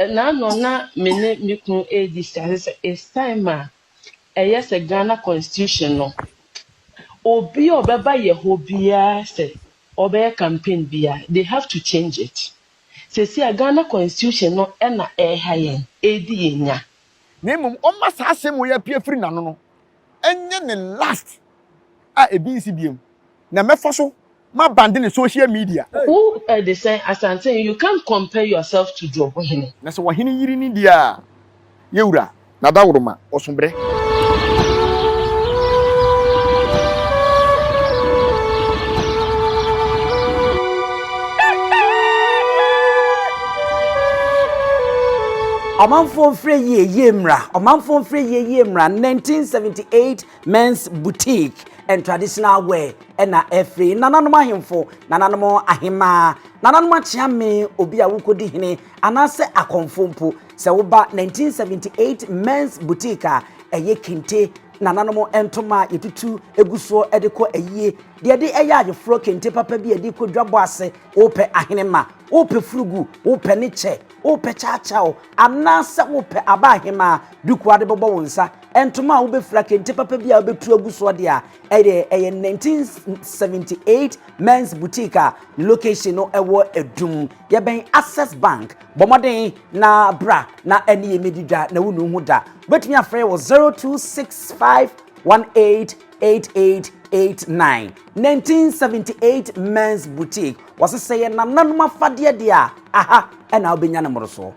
Ɛnaano na me ne me kunu rediscuss sɛ it's time a ɛyɛ sɛ Ghana constitution no obi a ɔbɛba yɛ hɔ biara sɛ ɔbɛyɛ campaign biara they have to change it. Sɛsi a Ghana constitution no ɛna ɛha yɛn, ɛdi yɛn nya. na mmom ɔmma saa asɛm wei apue afiri n'ano no nyɛ ne last a ebi nsi biom na mɛfa so ma bande ne social media. Wo de sɛ Asante you can't compare yourself to Dwobo hene. Na sɛ w'ɔhene yiri ne deɛ a yɛ wura na Daworoma ɔso brɛ. Ɔmanfoɔ mfrɛ yie yie mmra Ɔmanfoɔ mfrɛ yie yie mmra 1978 Men's Boutique and Traditional Wear ɛna ɛfiri Nananom ahemfo, Nananom ahemaa, Nananom akyeame obi a wokɔdi hene anaasɛ akɔmfo mpo sɛ woba 1978 Men's Boutique a ɛyɛ kente Nananom ntoma a yɛtutu egu soɔ de kɔ ayie deɛ de ɛyɛ ayeforɔ kente papa bi a yɛde kɔ dwabɔ ase wopɛ ahenemma wopɛ furugu wopɛ ne kyɛ Wopɛ kyaakyaaw anaasɛ wopɛ aba ahemaa, duku a wode bɛbɔ wo nsa, ntoma a wobɛfira, kente papa bi a wobɛtu agu soɔ deɛ a, ɛyɛ ɛyɛ 1978 Men's Boutique a ne location no ɛwɔ Adum. Yɛbɛn Access Bank. Bɔ mmɔden na bra na ɛne yɛn mmɛdi dwa na wonnu ho da. Wobɛtumi afrɛ yɛn wɔ 026518 8889 1978 Men's Boutique wɔse sɛ yɛ nananom afadeɛ deɛ a aha ɛna wobɛnya ne mmorosoɔ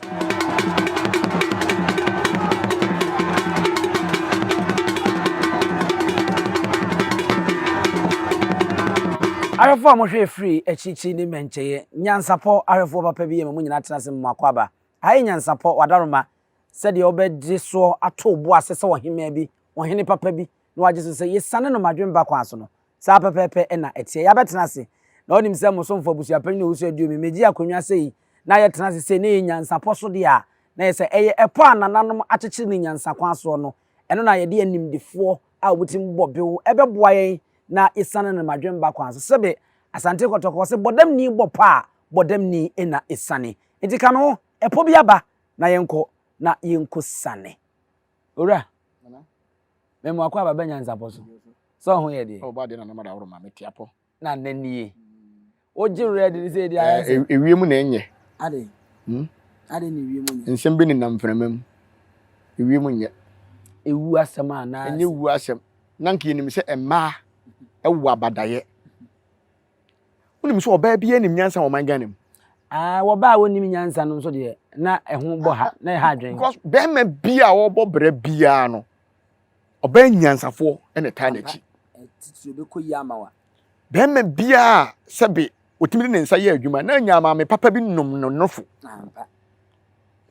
ahwɛfoɔ a mohwɛ firi akyirikyiri ne mmɛnkyɛeɛ nyansapɔ ahwɛfoɔ papa bi yɛ ma mo nyinaa tena ase mu akɔ aba ha yɛ nyansapɔ wadaroma sɛdeɛ wobɛgye soɔ ato bo ase sɛ ɔhemaa bi ɔhene papa bi na wagye so sɛ yesiane no ma adwempa kwan so no, saa ara pɛpɛɛpɛ na ɛteɛ. Yɛabɛtena ase, na onim sɛ mo somfo abusuapanyin a owusɔre di omi, megye akonnwa sɛ yi, na yɛtena ase sei, na ɛyɛ nyansapɔ so deɛ a, na ɛyɛ sɛ ɛyɛ ɛpɔ a nananom akyekyere no nyansa kwan soɔ no, ɛno na yɛde animdefoɔ a wɔtirim bɔ bew ɛbɛboa yɛn na yesiane no ma adwempa kwan so. Sɛbe Asante Kɔtɔkɔ, wɔse bɔdamni bɔ pɔ a, bɔdamni na esiane. Enti ka me ho, ɛpɔ bi aba, na yɛnkɔ na yɛnkɔsiane. Owura. mɛ mo akɔ aba bɛ nyansapɔ so sɛ ɔho yɛ deɛ. ɔbɔ adeɛ na nam adaworo ma mete apɔ. na nna nie wogye werɛ de ne sɛ ɛdi ayɛ sɛ. ewiem na ɛnyɛ. ade hmm? ade na ewiem nyɛ. nsɛm bi nenam mframa mu ewiem nyɛ. ewu asɛm a na. ɛnyɛ wu asɛm na nka yɛnim sɛ mmaa ɛwɔ abadayɛ. wonim sɛ ɔbaa biara nim nyansa wɔ ɔman ghana mu Ah, wɔbaa a wɔnnim nyansa no nso deɛ na ɛho bɔ ha na ɛha adwene because bɛrima bi a ɔbɔ brɛ biara no ɔbaa nyansafoɔ ɛna taa n'akyi titiri bɛkɔ yi ama wa bɛrima biara a sɛbe ɔtumi de ne nsa yɛ adwuma na nya maame papa bi nom no nofo ampa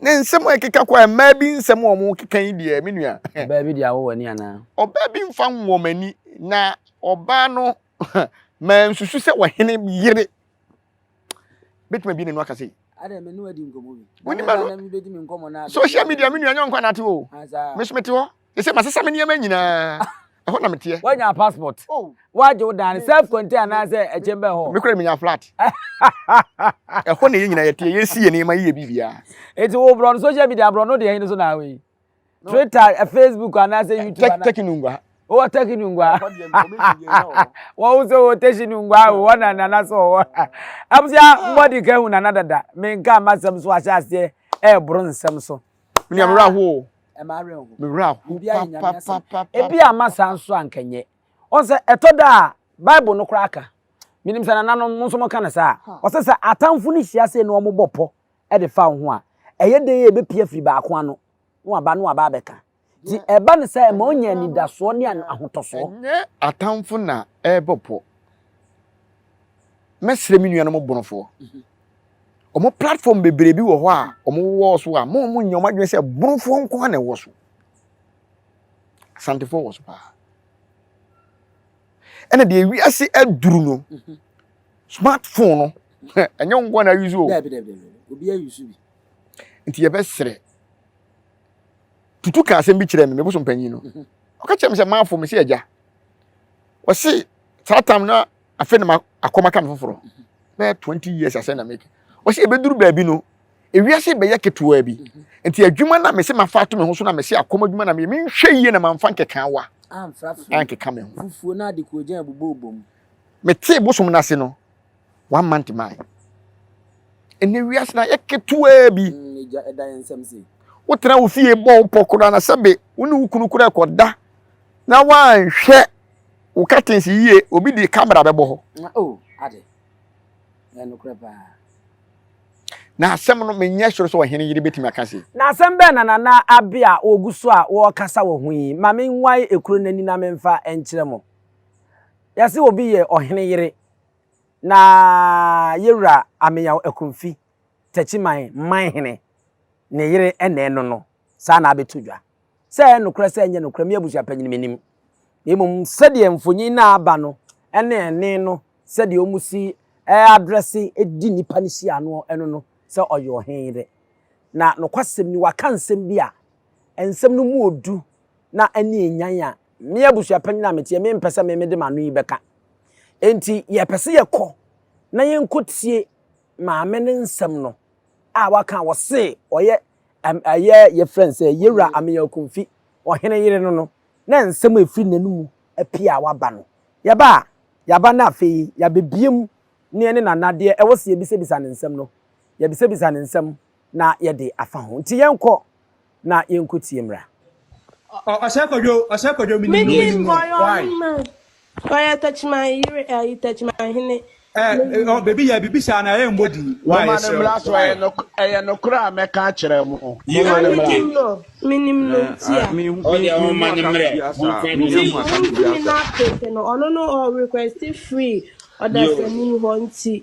ne nsɛm a ɛkeka kɔ a mmaa bi nsɛm a wɔn keka yi deɛ me nua ɔbaa bi deɛ awɔ w'ani anaa ɔbaa bi mfa nwɔmani na ɔbaa no Mansusu sɛ ɔhene yere bɛtumi abie n'anu aka sei. Adɛ me ne wadi nkɔmmɔ bi. Wonim ano. Na mebɛdi me nkɔmmɔ na. Social media me nua nyɛ nkwa na ate o. Me so mete hɔ. Ɛsɛ masesa me nneɛma nyinaa. Ɛhɔ na meteɛ. Woanya passport. Oh. Woagye wo dan self contain anaasɛ ɛkyɛn bɛ hɔ. Me kura menya flat. Ɛhɔ na yɛ nyinaa yɛteɛ yɛsi yɛ nneɛma yɛ biribiara. Eti wo brɔ no social media brɔ no deɛ ɛhe no so na awe. twitter eh, facebook anaasɛ eh, youtube ana tɛki nungwa wɔ tɛki nungwa wɔn nso wɔ tɛki nungwa wɔ na nana so wɔ abusua mbɔdi ka ehu nana dada menka ama nsɛm so ahyɛ aseɛ ɛɛboro nsɛm so. mi amura ho mi wura ho papapapa ebi ama saa nso ankanyɛ wɔn sɛ ɛtɔ da a bible no koraa ka menim sɛ nananom mo nso mo ka no saa wɔsɛ sɛ atamfo no hyia sɛ ne wɔn bɔ pɔ de fa wo ho a, ɛyɛ dɛn a ɛbɛpia firi baako ano na waba na waba abɛka. Nti ɛba no saa ɛma ɔnya anidasoɔ ne ahotɔsoɔ. Ɛnyɛ atamfo na ɛrebɔ pɔ. Mɛsrɛ me nuanom bonofoɔ. Wɔn platform bebree bi wɔ hɔ a wɔwɔ so a, mo a monyɛ wɔn adwene sɛ bonofoɔ nko ara na ɛwɔ so. Asantefoɔ wɔ so paa. ɛna deɛ wiase aduru no smartphone no ɛnyɛ wo nkoa na ayusu o daabi daabi daabi obi ayusu bi nti yɛbɛserɛ tutu ka asɛm bi kyerɛ me me bosom panyin no mhm. ɔka kyerɛ me sɛ maafo me sɛ agya wɔse saa tam na afei na akɔma ka me foforɔ mhm. bɛyɛ 20 years asɛ na meka wɔse ɛbɛduru baabi no ewiase rebɛyɛ ketewaa bi nti adwuma na mese mafa ato me ho so na mese akɔm adwuma na meyɛ menhwɛ yie na mamfa nkeka wa ankeka me ho fufuo na ade kuogyan bobɔ bom metee bosom no ase no one month mae ɛnɛ wiase na yɛ ketewaa bi ɛgya mm, ɛda yɛn nsɛm se wotena wo fie bɔ wo pɔ koraa na sɛbe wo ne wo kunu koraa ɛkɔda na woanhwɛ wo curtains yie obi de camera bɛbɔ hɔ oh, ade ɛnokorɛ paa Na asɛm no menyɛ soro sɛ ɔhene yere bɛtumi aka se. Na asɛm bɛn na Nana Abbey a ɔgu so a ɔrekasa wɔ ho yi ma menwae ekuro no ani na memfa nkyerɛ mo? Yɛse obi yɛ ɔhene yere na Yɛwura Ameyaw Akumfi, Takyiman manhene, ne yere ne ɛno no, saa na abɛto dwa. sɛ ɛyɛ nokorɛ sɛ ɛnyɛ nokorɛ me abusuapanyin menim na mmom sɛdeɛ mfonyin no a aba no ne ɛne no sɛdeɛ wɔn si adrɛse di nipa no si ano ɛno no sɛ ɔyɛ ɔhen dɛ na nokwasɛm ni waka nsɛm bi a nsɛm no mu odu na ɛne enyan a me abusuapanyin a meteɛ me mpɛ sɛ me mede m'ano yi bɛka enti yɛpɛ sɛ yɛkɔ na yɛnkɔtie maame no nsɛm no a waka wɔ se ɔyɛ Ɛm ɛyɛ yɛfrɛ no sɛ Yewura Ameyaw Kumfi, Ɔhene yere no no, na nsɛm a ɛfiri n'anomu apue a waba no. Yɛba a, yɛaba na afei yɛabɛbue mu ne ɛne Nana adeɛ ɛwɔ sɛ yɛbisabisa no nsɛm no, yɛbisabisa no nsɛm na yɛde afa ho. Nti yɛnkɔ na yɛnkɔtie mmra. Ɔ ɔ ɔsɛ kɔdwo ɔsɛ kɔdwo menim no menim no why. Ɔyɛ Techiman yere ɛyi Techiman hene. Ɛɛ ɔ baabi yɛ bibi saa na ɛyɛ mbɔ din. Why yɛ srɛ o. Why. Ɛyɛ nokorɛ a mɛka akyerɛ mo. Yie o yie. Minim no minim no nti a. Mi hu mi hu mu akasɛ bi asa a mi hu mu akasɛ bi asa. Nti wɔn ntumi na apeke no ɔno no ɔ request free ɔdasani hɔ nti.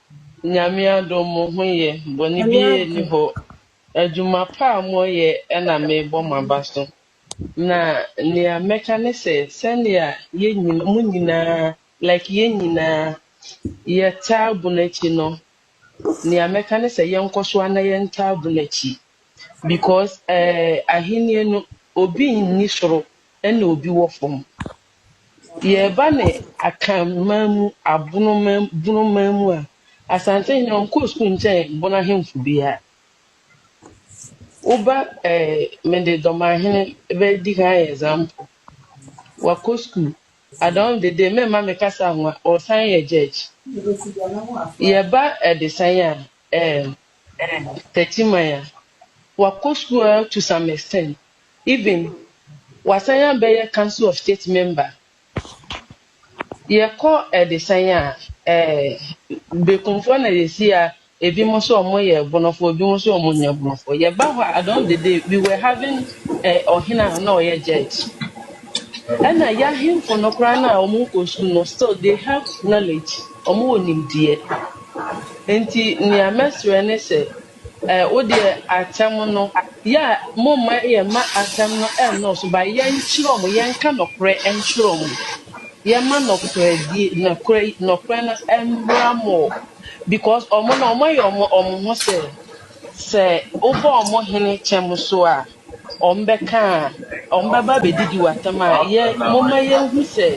Nyame adom mo ho yɛ, bɔne Nyame biaa nni adom. hɔ. Adwuma pa a mo yɛ na me bɔ mo aba so. Na nea mɛka ne sɛ, sɛnea yɛ nyina, mo nyinaa, like yɛ nyinaa yɛ taa bu no akyi no, nea mɛka ne sɛ yɛnkɔ so ara na yɛ ntaa bu no akyi. Because eh, ahennie no, obi nni soro ɛna obi wɔ fam. Yɛreba ne Akanman mu Abonoman Bonoman mu a, Asantehene ɔnkɔɔ sukuu nkyɛn Bono ahemfo biara. Woba ɛɛ mede Dɔmanhene bɛdi kan ayɛ example. Wakɔ sukuu. Adaom Dede meremma me kasa anwa, ɔresan yɛ judge. Yɛba Adesan a, ɛɛ Takyiman a, wakɔ sukuu ara to some extent. Even wasan abɛyɛ council of state member. Yɛkɔ ɛdesɛn a, ɛɛ Bekumfoɔ na yɛsi a ebinom nso wɔyɛ Bonofoɔ, ebinom nso wɔnyɛ Bonofoɔ. Yɛba hɔ a, at the end of the day, we were having eh, ɔhene a na ɔyɛ judge. Ɛna yɛahemfo no koraa no a wɔnkɔ sukuu no, still they have knowledge, wɔwɔ nimdeɛ. Nti nea mɛsrɛ ne sɛ Wo deɛ atɛm no yɛ a momma yɛn mma atɛm no nnɔɔso but yɛnkyerɛ wɔn, yɛnka nɔkorɛ nkyerɛ wɔn. Yɛmma nɔkorɛdie, nɔkorɛ, nɔkorɛ no mmra more because wɔn no wɔayɛ wɔn wɔn ho sɛ sɛ wobɔ wɔn hene kyɛm so a wɔbɛka a wɔbɛba abɛdidi w'atɛm a yɛ momma yɛnhu sɛ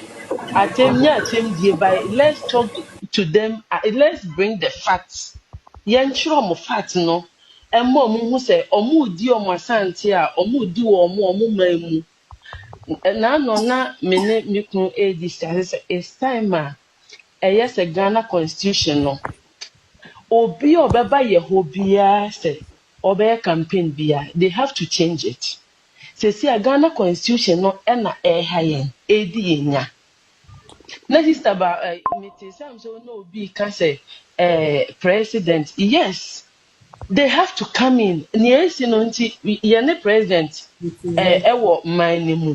atɛm nyɛ atɛmdie by let's talk to them uh, let's bring the facts Yɛnkyerɛ wɔn fact no mma wɔn nhu sɛ wɔredi wɔn Asante a wɔredi wɔ wɔn wɔn man mu. Naano na me ne me kunu rediscuss sɛ sɛ it's time a ɛyɛ sɛ Ghana constitution no obi a ɔbɛba yɛ hɔ biara sɛ ɔbɛyɛ campaign biara they have to change it. Seesei a Ghana constitution no na ɛreha yɛn, ɛredi yɛn nya. Na sister ba eh, me te sɛ am sɛ wo ne obi ka sɛ eh, president yes they have to come in nea esi no nti yɛne president eh, ɛwɔ man no mu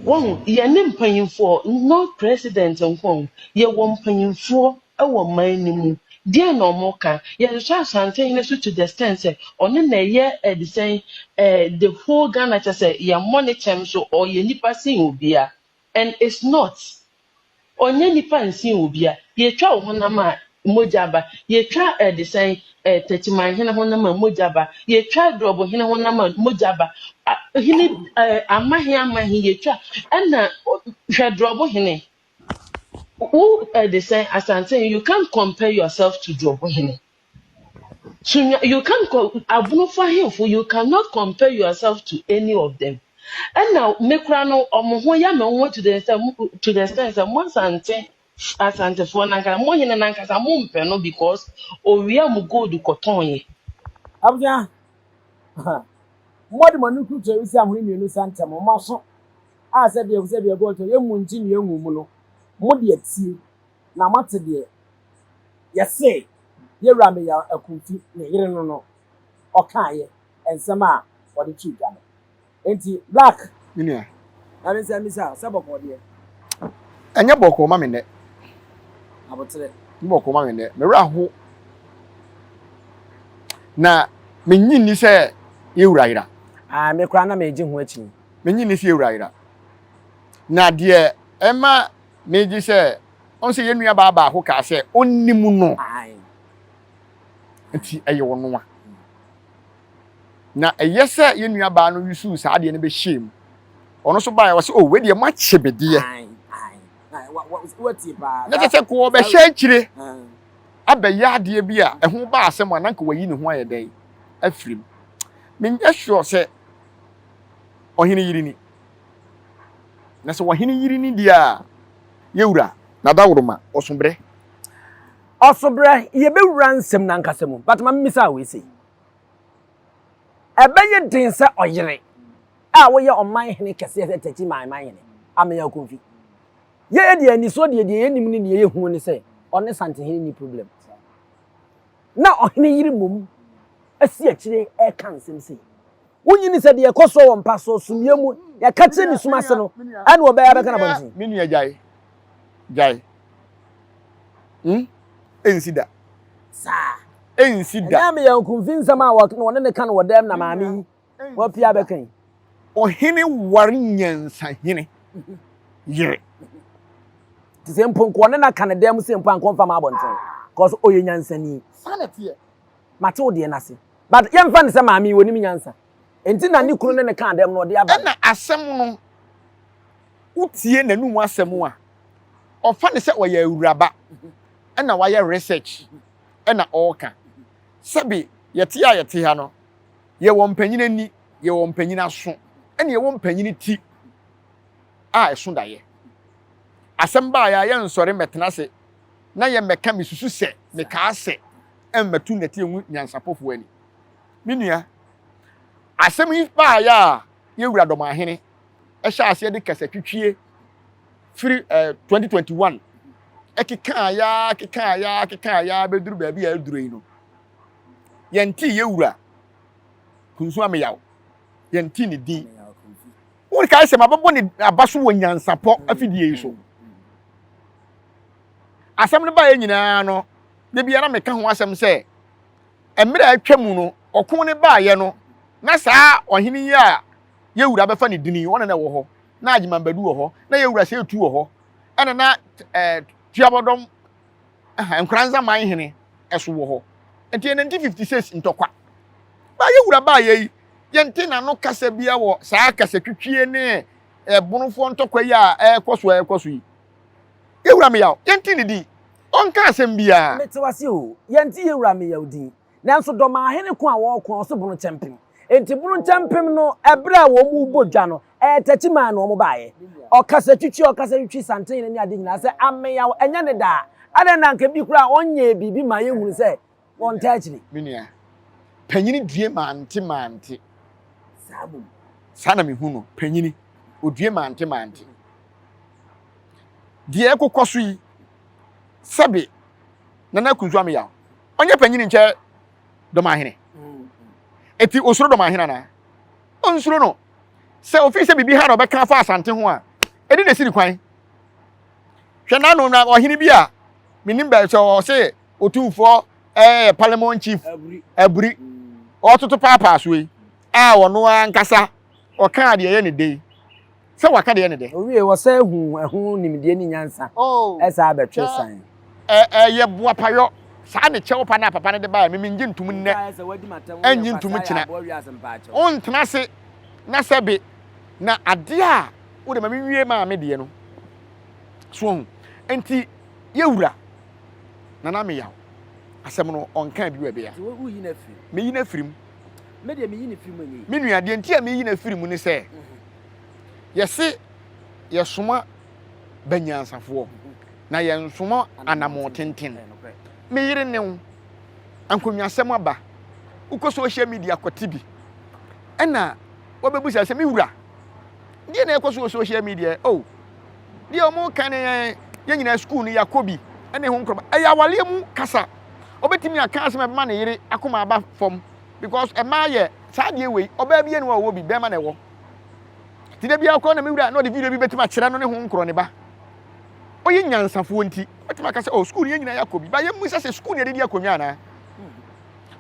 wɔn yɛne mpanyinfoɔ not president nko yɛwɔ mpanyinfoɔ wɔ man no mu. Deɛn na wɔka? Yɛnhwɛ Asantehene so to the extent sɛ ɔno na ɛyɛ eh, de sɛn eh, the whole Ghana kyɛ sɛ yɛmmɔ ne kyɛm so ɔyɛ nipa sen obia and it's not ɔnyɛ nipa nsen obia. Yɛtwa wo honam a mogya aba, yɛtwa eh, de sɛn eh, Techiman hene honam a mogya aba, yɛtwa Drɔbo hene honam a mogya aba, A- hene eh, amahe amahe yɛtwa ɛna ɔ- hwɛ Drɔbo hene Wo eh, de sɛn asante you can't compare yourself to Jobo hene. So nya- you can't co- abunofo ahemfo you cannot compare yourself to any of them. And now me kura no ɔmo ho ya me nwa to the extent to the extent sɛ mo asante asantefoɔ nankasa mo hene nankasa mo mpɛ no because owia mu gold kɔtɔn yɛ. abusua mmoa de mo ani kurukyerɛ resi ahono mmienu nsa ntɛm wɔn aso a sɛdeɛ ɛfo sɛ deɛ God kyerɛ, yɛmmu nnkye deɛ anwu mu no, mo deɛ tie, na moate deɛ yɛse yɛwura Meya Akumfi ne yere no no ɔkaeɛ, nsɛm a wɔde too dwa no. Enti Black. Me nua. Na me nsa mmisa sɛ bɔkɔɔ deɛ. Ɛnyɛ bɔkɔɔ ma me nnɛ. Aboterɛ. Ɛnyɛ bɔkɔɔ ma me nnɛ. Me wura ho. Na me nnye nni sɛ yɛwura yera. Ae, me koraa na megye ho akyi. menye ne fie wura yera. Na deɛ ɛma megye sɛ, ɔn sɛ yɛn nuabaa baako kaa sɛ, Ɔnnim no. Nti ɛyɛ ɔno a. Na ɛyɛ sɛ yɛn nuabaa no yusuu saa adeɛ no bɛhyɛɛ mu. Ɔno nso baeɛ, ɔse, O, wei deɛ moakye me deɛ. Na kyɛ sɛ nka ɔbɛhyɛ akyire abɛyɛ adeɛ bi a ɛho ba asɛm a, na nka wayi ne ho ayɛ dɛn afiri mu. Menyɛ sure sɛ ɔhene yere ni. Na sɛ ɔhene yere ni deɛ a, yɛwura na dawuroma ɔsobrɛ. Ɔsobrɛ, yɛbɛwura nsɛm no ankasa mu, but ma memmisa wei sei. Ɛbɛyɛ den sɛ ɔyere a woyɛ ɔman hene kɛseɛ sɛ tɛti man man hene amea akumfi. Yɛyɛ deɛ anisoɔ deɛ deɛ yɛnim ne deɛ yɛhunu ne sɛ ɔne santehene ni problem. Na ɔhene yere mmom asi akyire ɛka nsɛm sei. Wonnyini sɛ deɛ ɛkɔ soɔ wɔ mpa soɔ sumiiɛ mu yɛka kyerɛ ne sum ase no ɛna ɔbɛyɛ abɛka no abɔnten. Me nua gyae gyae hmm ɛnsi da. Saa. Ɛnsi da. Ɛnyɛ me yɛ nkumfi nsɛm a wɔne ne ka no wɔ dɛm na maame yi wapia abɛka yi. Ɔhene ware nyansahene yere. Te sɛ mpo nka ɔne no aka no dɛm se mpo anka ɔmfa ma abɔnten cause ɔyɛ nyansani. Saa na ɛteɛ. Mate wo deɛ no ase. But yɛmfa no sɛ maame yi ɔnim nyansa. Enti na ne kunu ne no kaa dɛm no ɔde aba no. Ɛna asɛm no, wotie n'anum asɛm a, ɔfa no sɛ ɔyɛ awuraba na wayɛ research na ɔreka. Sɛbe yɛte a yɛte ha no, yɛwɔ mpanyin ani, yɛwɔ mpanyin aso, ɛna yɛwɔ mpanyin ti a ɛso daeɛ. Asɛm baeɛ a yɛnsɔre mmɛtena ase na yɛ mmɛka me susu sɛ me kaa sɛ ɛmmɛto nnɛteɛ mu nyansapɔfoɔ ani. Me nua, asɛm yi baayɛ a yɛwura Dɔmahene ɛhyɛ aseɛ de kasa twitwie firi eh, 2021 ɛkekaa yaa kekaa yaa kekaa yaa bɛduru baabi a ɛduru yi no yɛntee yɛwura Kunsu Ameyaw yɛntee ne din Worekae sɛ mabɛbɔ ne aba so wɔ nyansapɔ afidie yi so. Asɛm no baeɛ nyinaa no, da biara meka ho asɛm sɛ mmerɛ a atwa mu no, ɔko no baeɛ no, na saa ɔhene yi a yɛwura bɛfa ne dini, ɔna na ɛwɔ hɔ, na Agyeman Badu wɔ hɔ, na yɛwura Seetu wɔ hɔ, ɛna na eh, Tuabɔdɔm Ɛha, Nkoranza man hene nso wɔ hɔ. Nti yɛ 1956 ntɔkwa. Baa yɛ wura baa yɛ yi, yɛnte n'ano kasa biara wɔ saa kasatwitwie ne ɛbonofoɔ ntɔkwa yi a ɛrekɔ so ɛrekɔ so yi. Yɛ wura Meyaw, yɛnte ne din. Ɔnka asɛm biara. Mete wo ase oo. Yɛnte yɛ wura Meyaw din. Nanso dɔmaa hene ko a wɔreko a ɔse bono kyɛmpem. Nti bono kyɛmpem no ɛberɛ a wɔn rebɔ dwa no, ɛɛ tɛkyi maa na wɔn baayɛ. Ɔkasa twitwi ɔkasa twitwi santen no ne ade nyinaa sɛ ameyaw ɛnyɛ ne daa. Adɛn na anka bi koraa ɔnyɛɛ biribi maa yɛhunu sɛ wɔntaa akyiri. Me nua panyini due mante mante. Saa mmom. Saa na mehu no, panyini, ɔdue mante mante. Deɛ ɛkokɔ so yi, sɛbe Nana Kunsu Ameyaw, ɔnyɛ panyini nkyɛ Dɔmahene. Ɛti ɔsuro Dɔmahene anaa? Ɔnsuro no. sɛ ofii sɛ biribi ha na ɔbɛka afa asante ho a ɛne na esiri kwan hwɛ n'ano na ɔhene bi a menim bɛ sɛ ɔse otumfoɔ ɛyɛ eh, parliament chief aburi ɔtoto paapaa so yi a ɔno ankasa ɔka deɛ ɛyɛ ne de sɛ waka deɛ ne de owie wɔsɛ hu ɛho nimdeɛ ne nyansa ɛsa oh, abɛtwe san Ɛ ɛ yɛ boapa yɔ. Saa ne kyɛw pa no a papa no de bae a me mennye ntom nnɛ, ɛrennye ntom kyena. Wontena ase na sɛ be na adeɛ a wode ma me nwie maa me deɛ no. So wahu? Enti yɛwura Nana Meyaw asɛm no ɔnkaa bio ɛbea. Meyi no afiri mu. Me nua, deɛ nti a meyi no afiri mu ne sɛ, yɛse yɛsoma ba nyansafoɔ, na yɛnsono anammɔn tenten. Me yere ne wo ankonwasɛm aba, wokɔ social media kɔte bi, ɛna wɔbɛbusa sɛ, me wura, deɛ na ɛkɔ so wɔ social media o oh, deɛ wɔn ka ne yɛn yɛn nyinaa sukuu no yɛakɔ bi ɛne ho nkorɔba ɛyɛ awaleɛ mu kasa ɔbɛtumi aka asɛm ɛbɛma ne yere akoma aba fam because ɛmaa yɛ saa deɛ wei ɔbaa bi ɛne wɔ bi bɛrima na ɛwɔ Nti da biara kɔ na me wura na ɔde video bi bɛtumi akyerɛ no ne ho nkorɔ ne ba. Ɔyɛ nyansafoɔ nti, ɔbɛtumi aka sɛ, oh, sukuu no yɛn nyinaa yɛakɔ bi. Ba yɛmmu sɛ sɛ sukuu no yɛde di akonnwa anaa?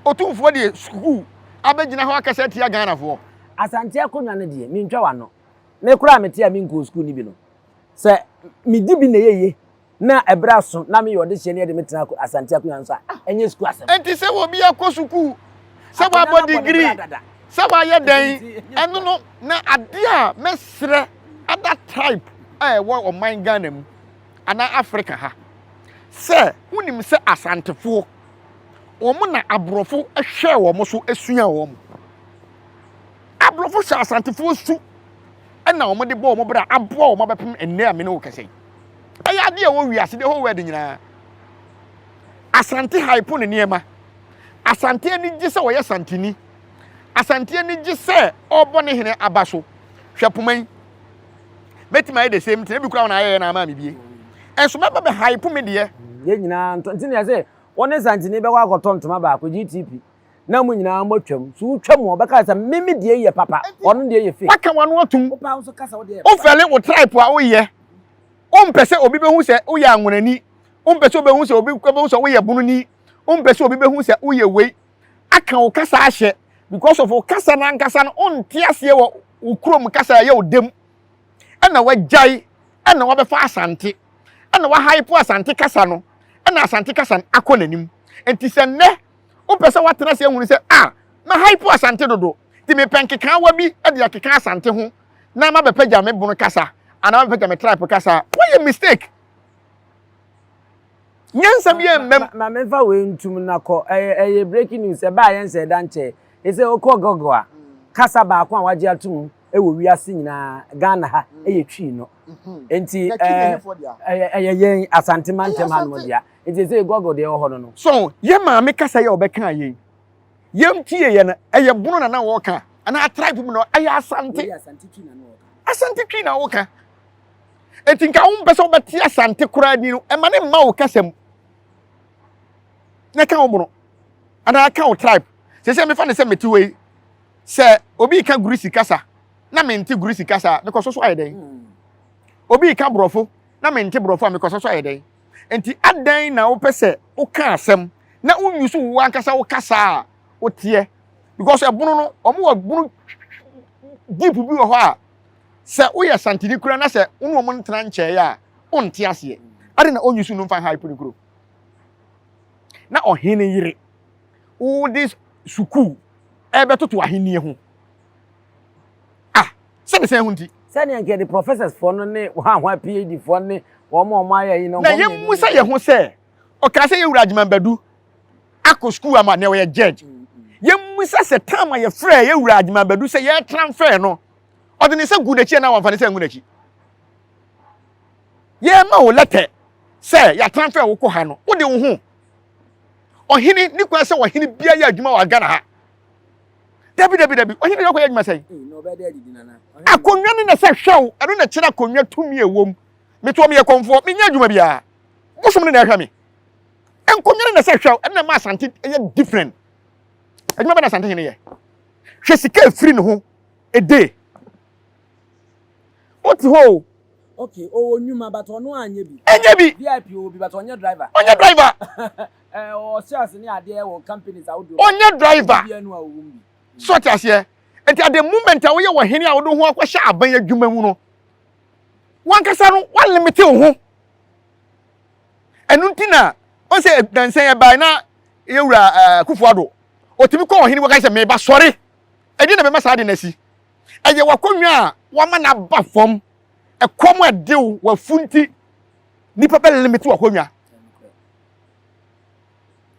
Otumfoɔ deɛ sukuu abɛgyina hɔ akasa atia Ghanafoɔ. Asante akonnwa no deɛ, mentwa w'ano. Me koraa a mete a menkɔɔ sukuu no bi no, sɛ medi bi na ɛyɛ yie. Na ɛberɛ aso na meyɛ ɔdehyeɛ ne de me tena Asante akonwa nso a, ah, ɛnyɛ sukuu asɛm. Enti sɛ obi akɔ sukuu, sɛ wabɔ digiri, sɛ wayɛ dɛn, ɛno no, na adeɛ a mɛsrɛ ada tribe a ɛwɔ ɔman Ghana mu anaa Africa ha sɛ wonim sɛ Asantefoɔ wɔn na aborɔfo hwɛɛ wɔn so sua wɔn aborɔfo hyɛ asantefoɔ su ɛna wɔn de bɔ wɔn bra aboa wɔn abɛpem ɛnɛ a mene wo kɛse Ɛyɛ adeɛ ɛwɔ wiase the whole world nyinaa. Asante hype ne nneɛma. Asante ani gye sɛ ɔyɛ santini. Asante ani gye sɛ ɔrebɔ ne hene aba so. Hwɛ poma yi. Mɛtumi ayɛ the same thing. Ebi kura wɔn ayɛyɛ na ama me bie. Ɛnso mɛba bɛ hype me deɛ. Yɛn nyinaa ntɔ nti na yɛsɛ wɔne santini bɛkɔ akɔtɔ ntoma baako GTP. na mo nyinaa moatwam. So wotwa mu a, ɔbɛka sɛ, me me deɛ yɛ papa, ɔno deɛ yɛ fake. Waka w'ano atom. Wopaa wo nso ka sɛ wo deɛ yɛ papa. Wofɛle wo tribe a woyɛ. Wompɛ sɛ obi bɛhu sɛ woyɛ anwonani. Wompɛ sɛ wobɛhu sɛ obi bɛhu sɛ woyɛ bononi. Wompɛ sɛ obi bɛhu sɛ woyɛ wei. Aka wo kasa ahyɛ because of wo kasa no ankasa no wonte aseɛ wɔ wo kurom kasa a ɛyɛ wo dam. Ɛna wagyae ɛna wabɛfa Asante. Ɛna wahype Asante kasa no ɛna Asante kasa no akɔ n'anim. Nti sɛ nnɛ Wopɛ sɛ woatena ase ahunu sɛ, ah, na ha yi po Asante dodo, nti mepɛ nkekaawa bi de akeka Asante ho na mabɛpagya me bono kasa anaa mabɛpagya me tribe kasa a, woayɛ mistake. Nyansa biara mmam. Ma memfa wei ntum na kɔ. Ɛyɛ ɛyɛ breaking news. Ɛbaa yɛn sɛ ɛda nkyɛe. Ɛsɛ wokɔ Google a, kasa baako a wɔagye atom wɔ wiase nyinaa, Ghana ha, ɛyɛ Twi no. Nti ɛɛ ɛyɛ yɛn Asante mantam hanom dea. Nti ɛsɛ yɛ Google deɛ ɛwɔ hɔ no no. So yɛ maame kasa yɛ ɔbɛka yɛn yɛn tie yɛ no ɛyɛ bono na na wɔka anaa tribe mu na ɛyɛ asante asante twi na wɔka eti nka wɔn mpɛ sɛ wɔbɛte asante koraa ni no ɛma ne mma wɔ kasa mu na ɛka wɔn bono anaa ɛka wɔn tribe sɛ sɛ mefa ne sɛ mete wɔ yi sɛ obi ka gurisi kasa na mente gurisi kasa mekɔ so so ayɛ dɛn hmm. obi ka borɔfo na mente borɔfo a mekɔ so so ayɛ dɛn. Enti adɛn na wopɛ sɛ woka asɛm na wonyi so wo ankasa wo kasa a woteɛ? Because ɛbono no, wɔn wɔ bono deep bi wɔ hɔ a, sɛ woyɛ santini kura na sɛ wo ne wɔn ntena nkyɛe a, wonte aseɛ. Adɛn na onyi so no mfa hype no kuro? Na ɔhene yere, wode sukuu ɛbɛtoto ahenni ho. Ah, sɛ me sɛn ho nti. Sɛnea nka yɛde professors foɔ no ne hwanhwa PhD foɔ ne wɔn a wɔn ayɛ yi no. Na yɛn mu sɛ yɛn ho sɛ, ɔkaa sɛ yɛn wura Agyeman Badu akɔ school ama nea ɔyɛ judge. Yɛn mu sɛ sɛ time a yɛfrɛ yɛn wura Agyeman Badu sɛ yɛn transfer no, ɔde ne nsa gu n'akyi anaa wɔnfa ne nsa ngu n'akyi. Yɛn ma wo lɛtɛ sɛ yɛ transfer wo kɔ ha no, wode wo ho. Ɔhene ne kwan sɛ ɔhene biara yɛ adwuma wɔ Ghana ha. dabi dabi dabi ɔhene de ɔkɔyɛ adwuma sɛn akonnwa ne na sɛ hwɛw ɛno na kyerɛ akonnwa tumi ɛwɔ mu metoɔ meyɛ kɔmfoɔ menyɛ adwuma biara wosom ne na ɛhwɛ me nkonnwa ne na sɛ hwɛw ɛno na ma asante ɛyɛ different adwuma bɛ na asante hene yɛ hwɛ sika ɛfiri ne ho ɛde wote hɔ o okay ɔwɔ nnwuma but ɔno anyɛ bi ɛnyɛ bi vip ɔwɔ bi but ɔnyɛ driver ɔnyɛ driver Ɔnyɛ driver. So ɔte aseɛ? Nti at the moment a woyɛ ɔhene a wode ho akɔhyɛ aban adwuma mu no, wankasa no walimite wo ho. Ɛno nti na wɔn sɛ dansan ɛbae na yɛwura ɛɛ Kufuado. Ɔtumi kɔ ɔhene wɔka sɛ meba sɔre. Ɛdeɛ na bɛma saa de no asi. Ɛyɛ wakɔnwa a wama no aba fam. Ɛkɔm ɛdew wafu nti nipa bɛ limite wakɔnwa.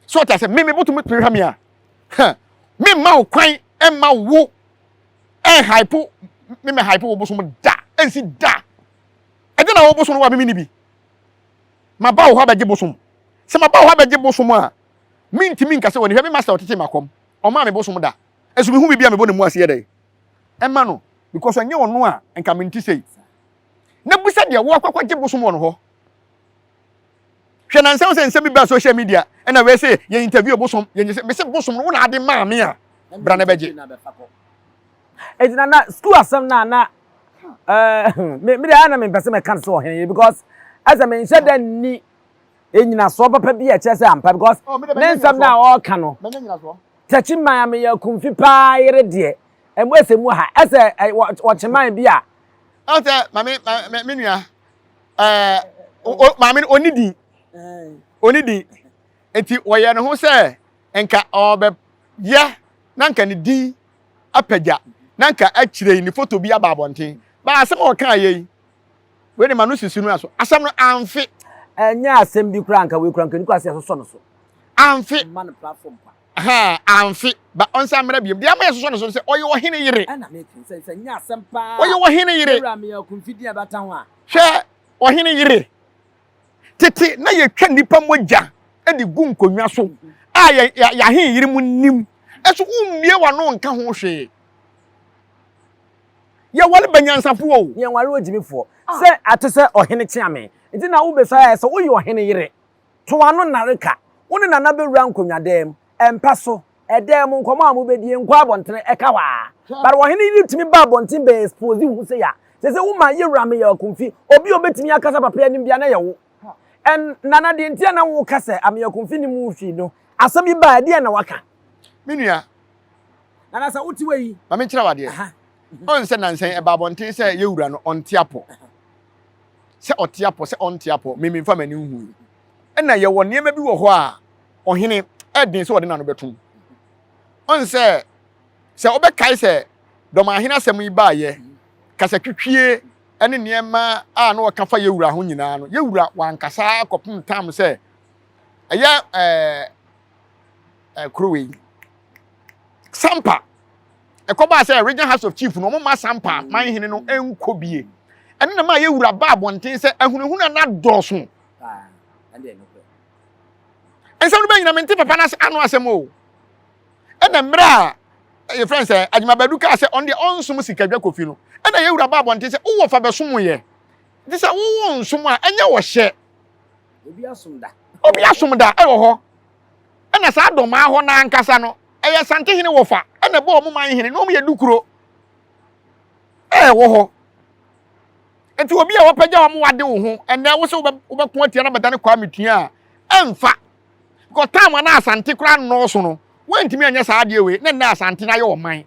so ɔte ase me mebotumi pere ha me a me mma wo kwan mma wo ɛnhype me mɛ hype wo bosom da ɛnsi da ɛde na wo bosom no wa mimi ni bi ma ba wo hɔ abɛgye bosom sɛ ma ba wo hɔ abɛgye bosom a mentumi nka sɛ wɔne hwɛ me master ɔtete makɔm ɔma me bosom da ɛso mehu biribi a mebɔ ne mu aseɛ dɛ ɛma no because ɛnyɛ ɔno a nka mente sei na bisa deɛ woakɔkɔgye bosom wɔ no hɔ Hwɛ nansa wo sɛ nsɛm bi baa social media ɛna wei se yɛ interview ɔbosom yɛ nyese mese bosom no wo na ade maa me a bra na bɛgye. Eti na na school asɛm na na eh me me de ayɛ na me mpɛ sɛ mɛka so ɔhene yi because ɛsɛ me nhyɛ dɛ nni nnyinasoɔ papa bi a ɛkyerɛ sɛ ampa because oh, ne nsɛm na ɔreka no tɛkyi man a meyɛ kumfi paa yere deɛ ɛmu ɛsɛ mu ha ɛsɛ wɔkye man bi a. ɔn sɛ maame me nua ɛɛ maame no ɔni din ɔni din nti wɔyɛ ne ho sɛ nka ɔbɛyɛ na nka ne din apagya na nka akyire yi ne foto bi aba abɔnten baa asɛm a ɔka yɛ yi wei de ma no sisi no aso asɛm no amfe ɛnyɛ asɛm bi koraa nka wei koraa nka ne kura sɛ ɛsosɔ no so amfe Ɛhɛɛ, amfe. Ba ɔnsan mmra biom. Deɛ ama yɛsosɔ no so ne sɛ ɔyɛ ɔhene yere. Ɔyɛ ɔhene yere. Hwɛ ɔhene yere. Tete na yɛtwa nnipa mogya de gu nkonnwa so a yɛahen yere mu nim. Ɛso wommie w'ano nka ho hwee. Yɛware ba nyansafo o. Yɛnware ogyimifoɔ. Sɛ ate sɛ ɔhene kyea me. Nti na wobɛsa ayɛ sɛ woyɛ ɔhene yere. To ano nnareka, wo ne Nana bɛwura nkonnwadan mu, mpa so, dan mu, nkɔmmɔ a mobɛdie, nkɔ abɔntene, ɛka hɔ ara. But ɔhene Yiri tumi ba abɔnten bɛ expose wo ho sei a, sɛ sɛ wo ma yɛwura meyɛ Akumfi, obi a ɔbɛtumi akasa papa yi anim biara na ɛyɛ wo. And Nana deɛ nti a na wo ka sɛ Ameya Akumfi nim wo fii no, asɛm yi baa a, ɛdeɛn na waka? Me nua. Nana sɛ wo te wɔ yi. Ma me nkyerɛ wo adeɛ. Ɔn sɛ nansa yi ɛba abɔnten sɛ yɛwura no ɔnte apɔ. sɛ ɔte apɔ sɛ ɔnte apɔ me memfa m'ani nhui ɛna yɛwɔ nneɛma bi wɔ hɔ a ɔhene ɛden sɛ ɔde n'ano bɛto mu ɔn sɛ sɛ wobɛkae sɛ dɔmahene asɛm yi baayɛ kasa twitwie ɛne nneɛma a na ɔka fa yɛwura ho nyinaa no yɛwura wankasa kɔpem tam sɛ ɛyɛ ɛɛ eh, kuro wei sampa ɛkɔbaa sɛ regional house of chief no ɔmo ma sampa man hene no nkɔ bie ɛno na ma yɛ wura ba abɔnten sɛ ahunahuna na dɔɔso nsɛm no bɛnyina mente papa no ano asɛm o ɛna mmerɛ a yɛfrɛ sɛ adwumabadu kaa sɛ ɔno deɛ ɔnsom sikadwa kofi no ɛna yɛ wura ba abɔnten sɛ wowɔ fa bɛsom yɛ nti sɛ wowɔ nsom a ɛnyɛ wɔhyɛ Obi asom da. Obi asom da wɔ hɔ. Ɛna saa dɔmaa hɔ no ankasa no, ɛyɛ Santehene wɔfa ɛna ɛbɔ wɔn man hene na wɔn yɛ dukuro ɛwɔ hɔ. Nti obi a wɔpɛgya wɔn wade wo ho ɛnɛ wo sɛ wobɛko atia na bɛdane Kwame Tua a ɛmfa. Because time a na Asante koraa nnɔɔso no, wɔntumi anyɛ saa adeɛ wei na nnɛ Asante no ayɛ ɔman.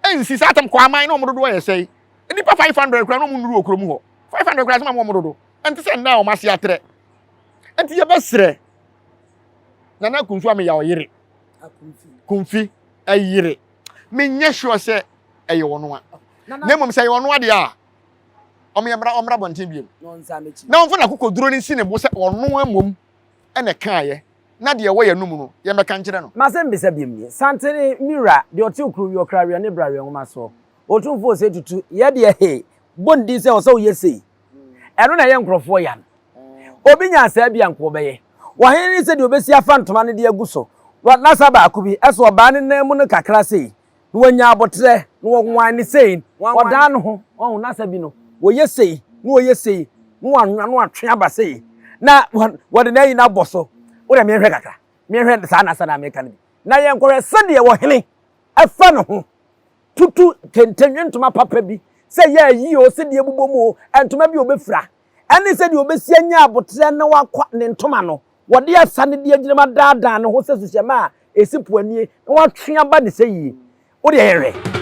Ɛnsi saa tam kɔ aman na wɔn dodoɔ yɛ sɛe. Nnipa 500 koraa na wɔn nnuru wɔ kurom hɔ. 500 koraa sɛ ma wɔn dodo. Ɛnte sɛ nna a wɔn ase atrɛ. Nti yɛbɛsrɛ Nana Kumfi ama yɛ ɔyere. Kumfi ɛyere. Menyɛ sure sɛ ɛyɛ ɔno a. Na mmom sɛ ɛyɛ ɔno adeɛ a, wɔn yɛ mmra ɔmmra bɔnten biom. Na wɔmfa n'akokoduro no nsi ne bo sɛ ɔno mmom ɛna ɛkaeɛ na deɛ ɛwɔ yɛn no mu no yɛmmɛka nkyerɛ no. M'asɛm bisa biom nie, Santene me wura, deɛ ɔte okuro wie ɔkra weɛ ne bra weɛ nwoma soɔ. Otumfoɔ ose tutu, yɛ deɛ he, bɔ ne din sɛ ɔsɛ woyɛ sei. ɛno na ɛyɛ nkurɔfoɔ ya no obi nyaa saa bi anko ɔbɛyɛ wɔhene ne sɛdeɛ ɔbɛsi afa ntoma no de agu so nasa baako bi ɛso ɔbaa ne nan mu no kakra sei na wɔnya aboterɛ na wɔwan ne sei wɔdaa no ho wɔn nasa bi no wɔyɛ sei na wɔyɛ sei na wɔanwa na wɔatwe aba sei na wɔde na ayi no abɔ so wodɛ mehwɛ kakra mehwɛ saa nasa na meka no bi na yɛnkɔhwɛ sɛdeɛ wɔhene ɛfa ne ho tutu kentɛnwe ntoma papa bi, sɛ ɛyɛ ayi oo, sɛdeɛ ɛbobɔ mu oo, ntoma bi a ɔbɛfira, ɛne sɛdeɛ ɔbɛsi anya aboterɛ na wakwa ne ntoma no, wɔde ɛsa no de agyinam adaadaa ne ho sɛ suhyɛmma a ɛsi po anie, na watwe aba ne sɛ yie. Wo deɛ yɛhwɛ.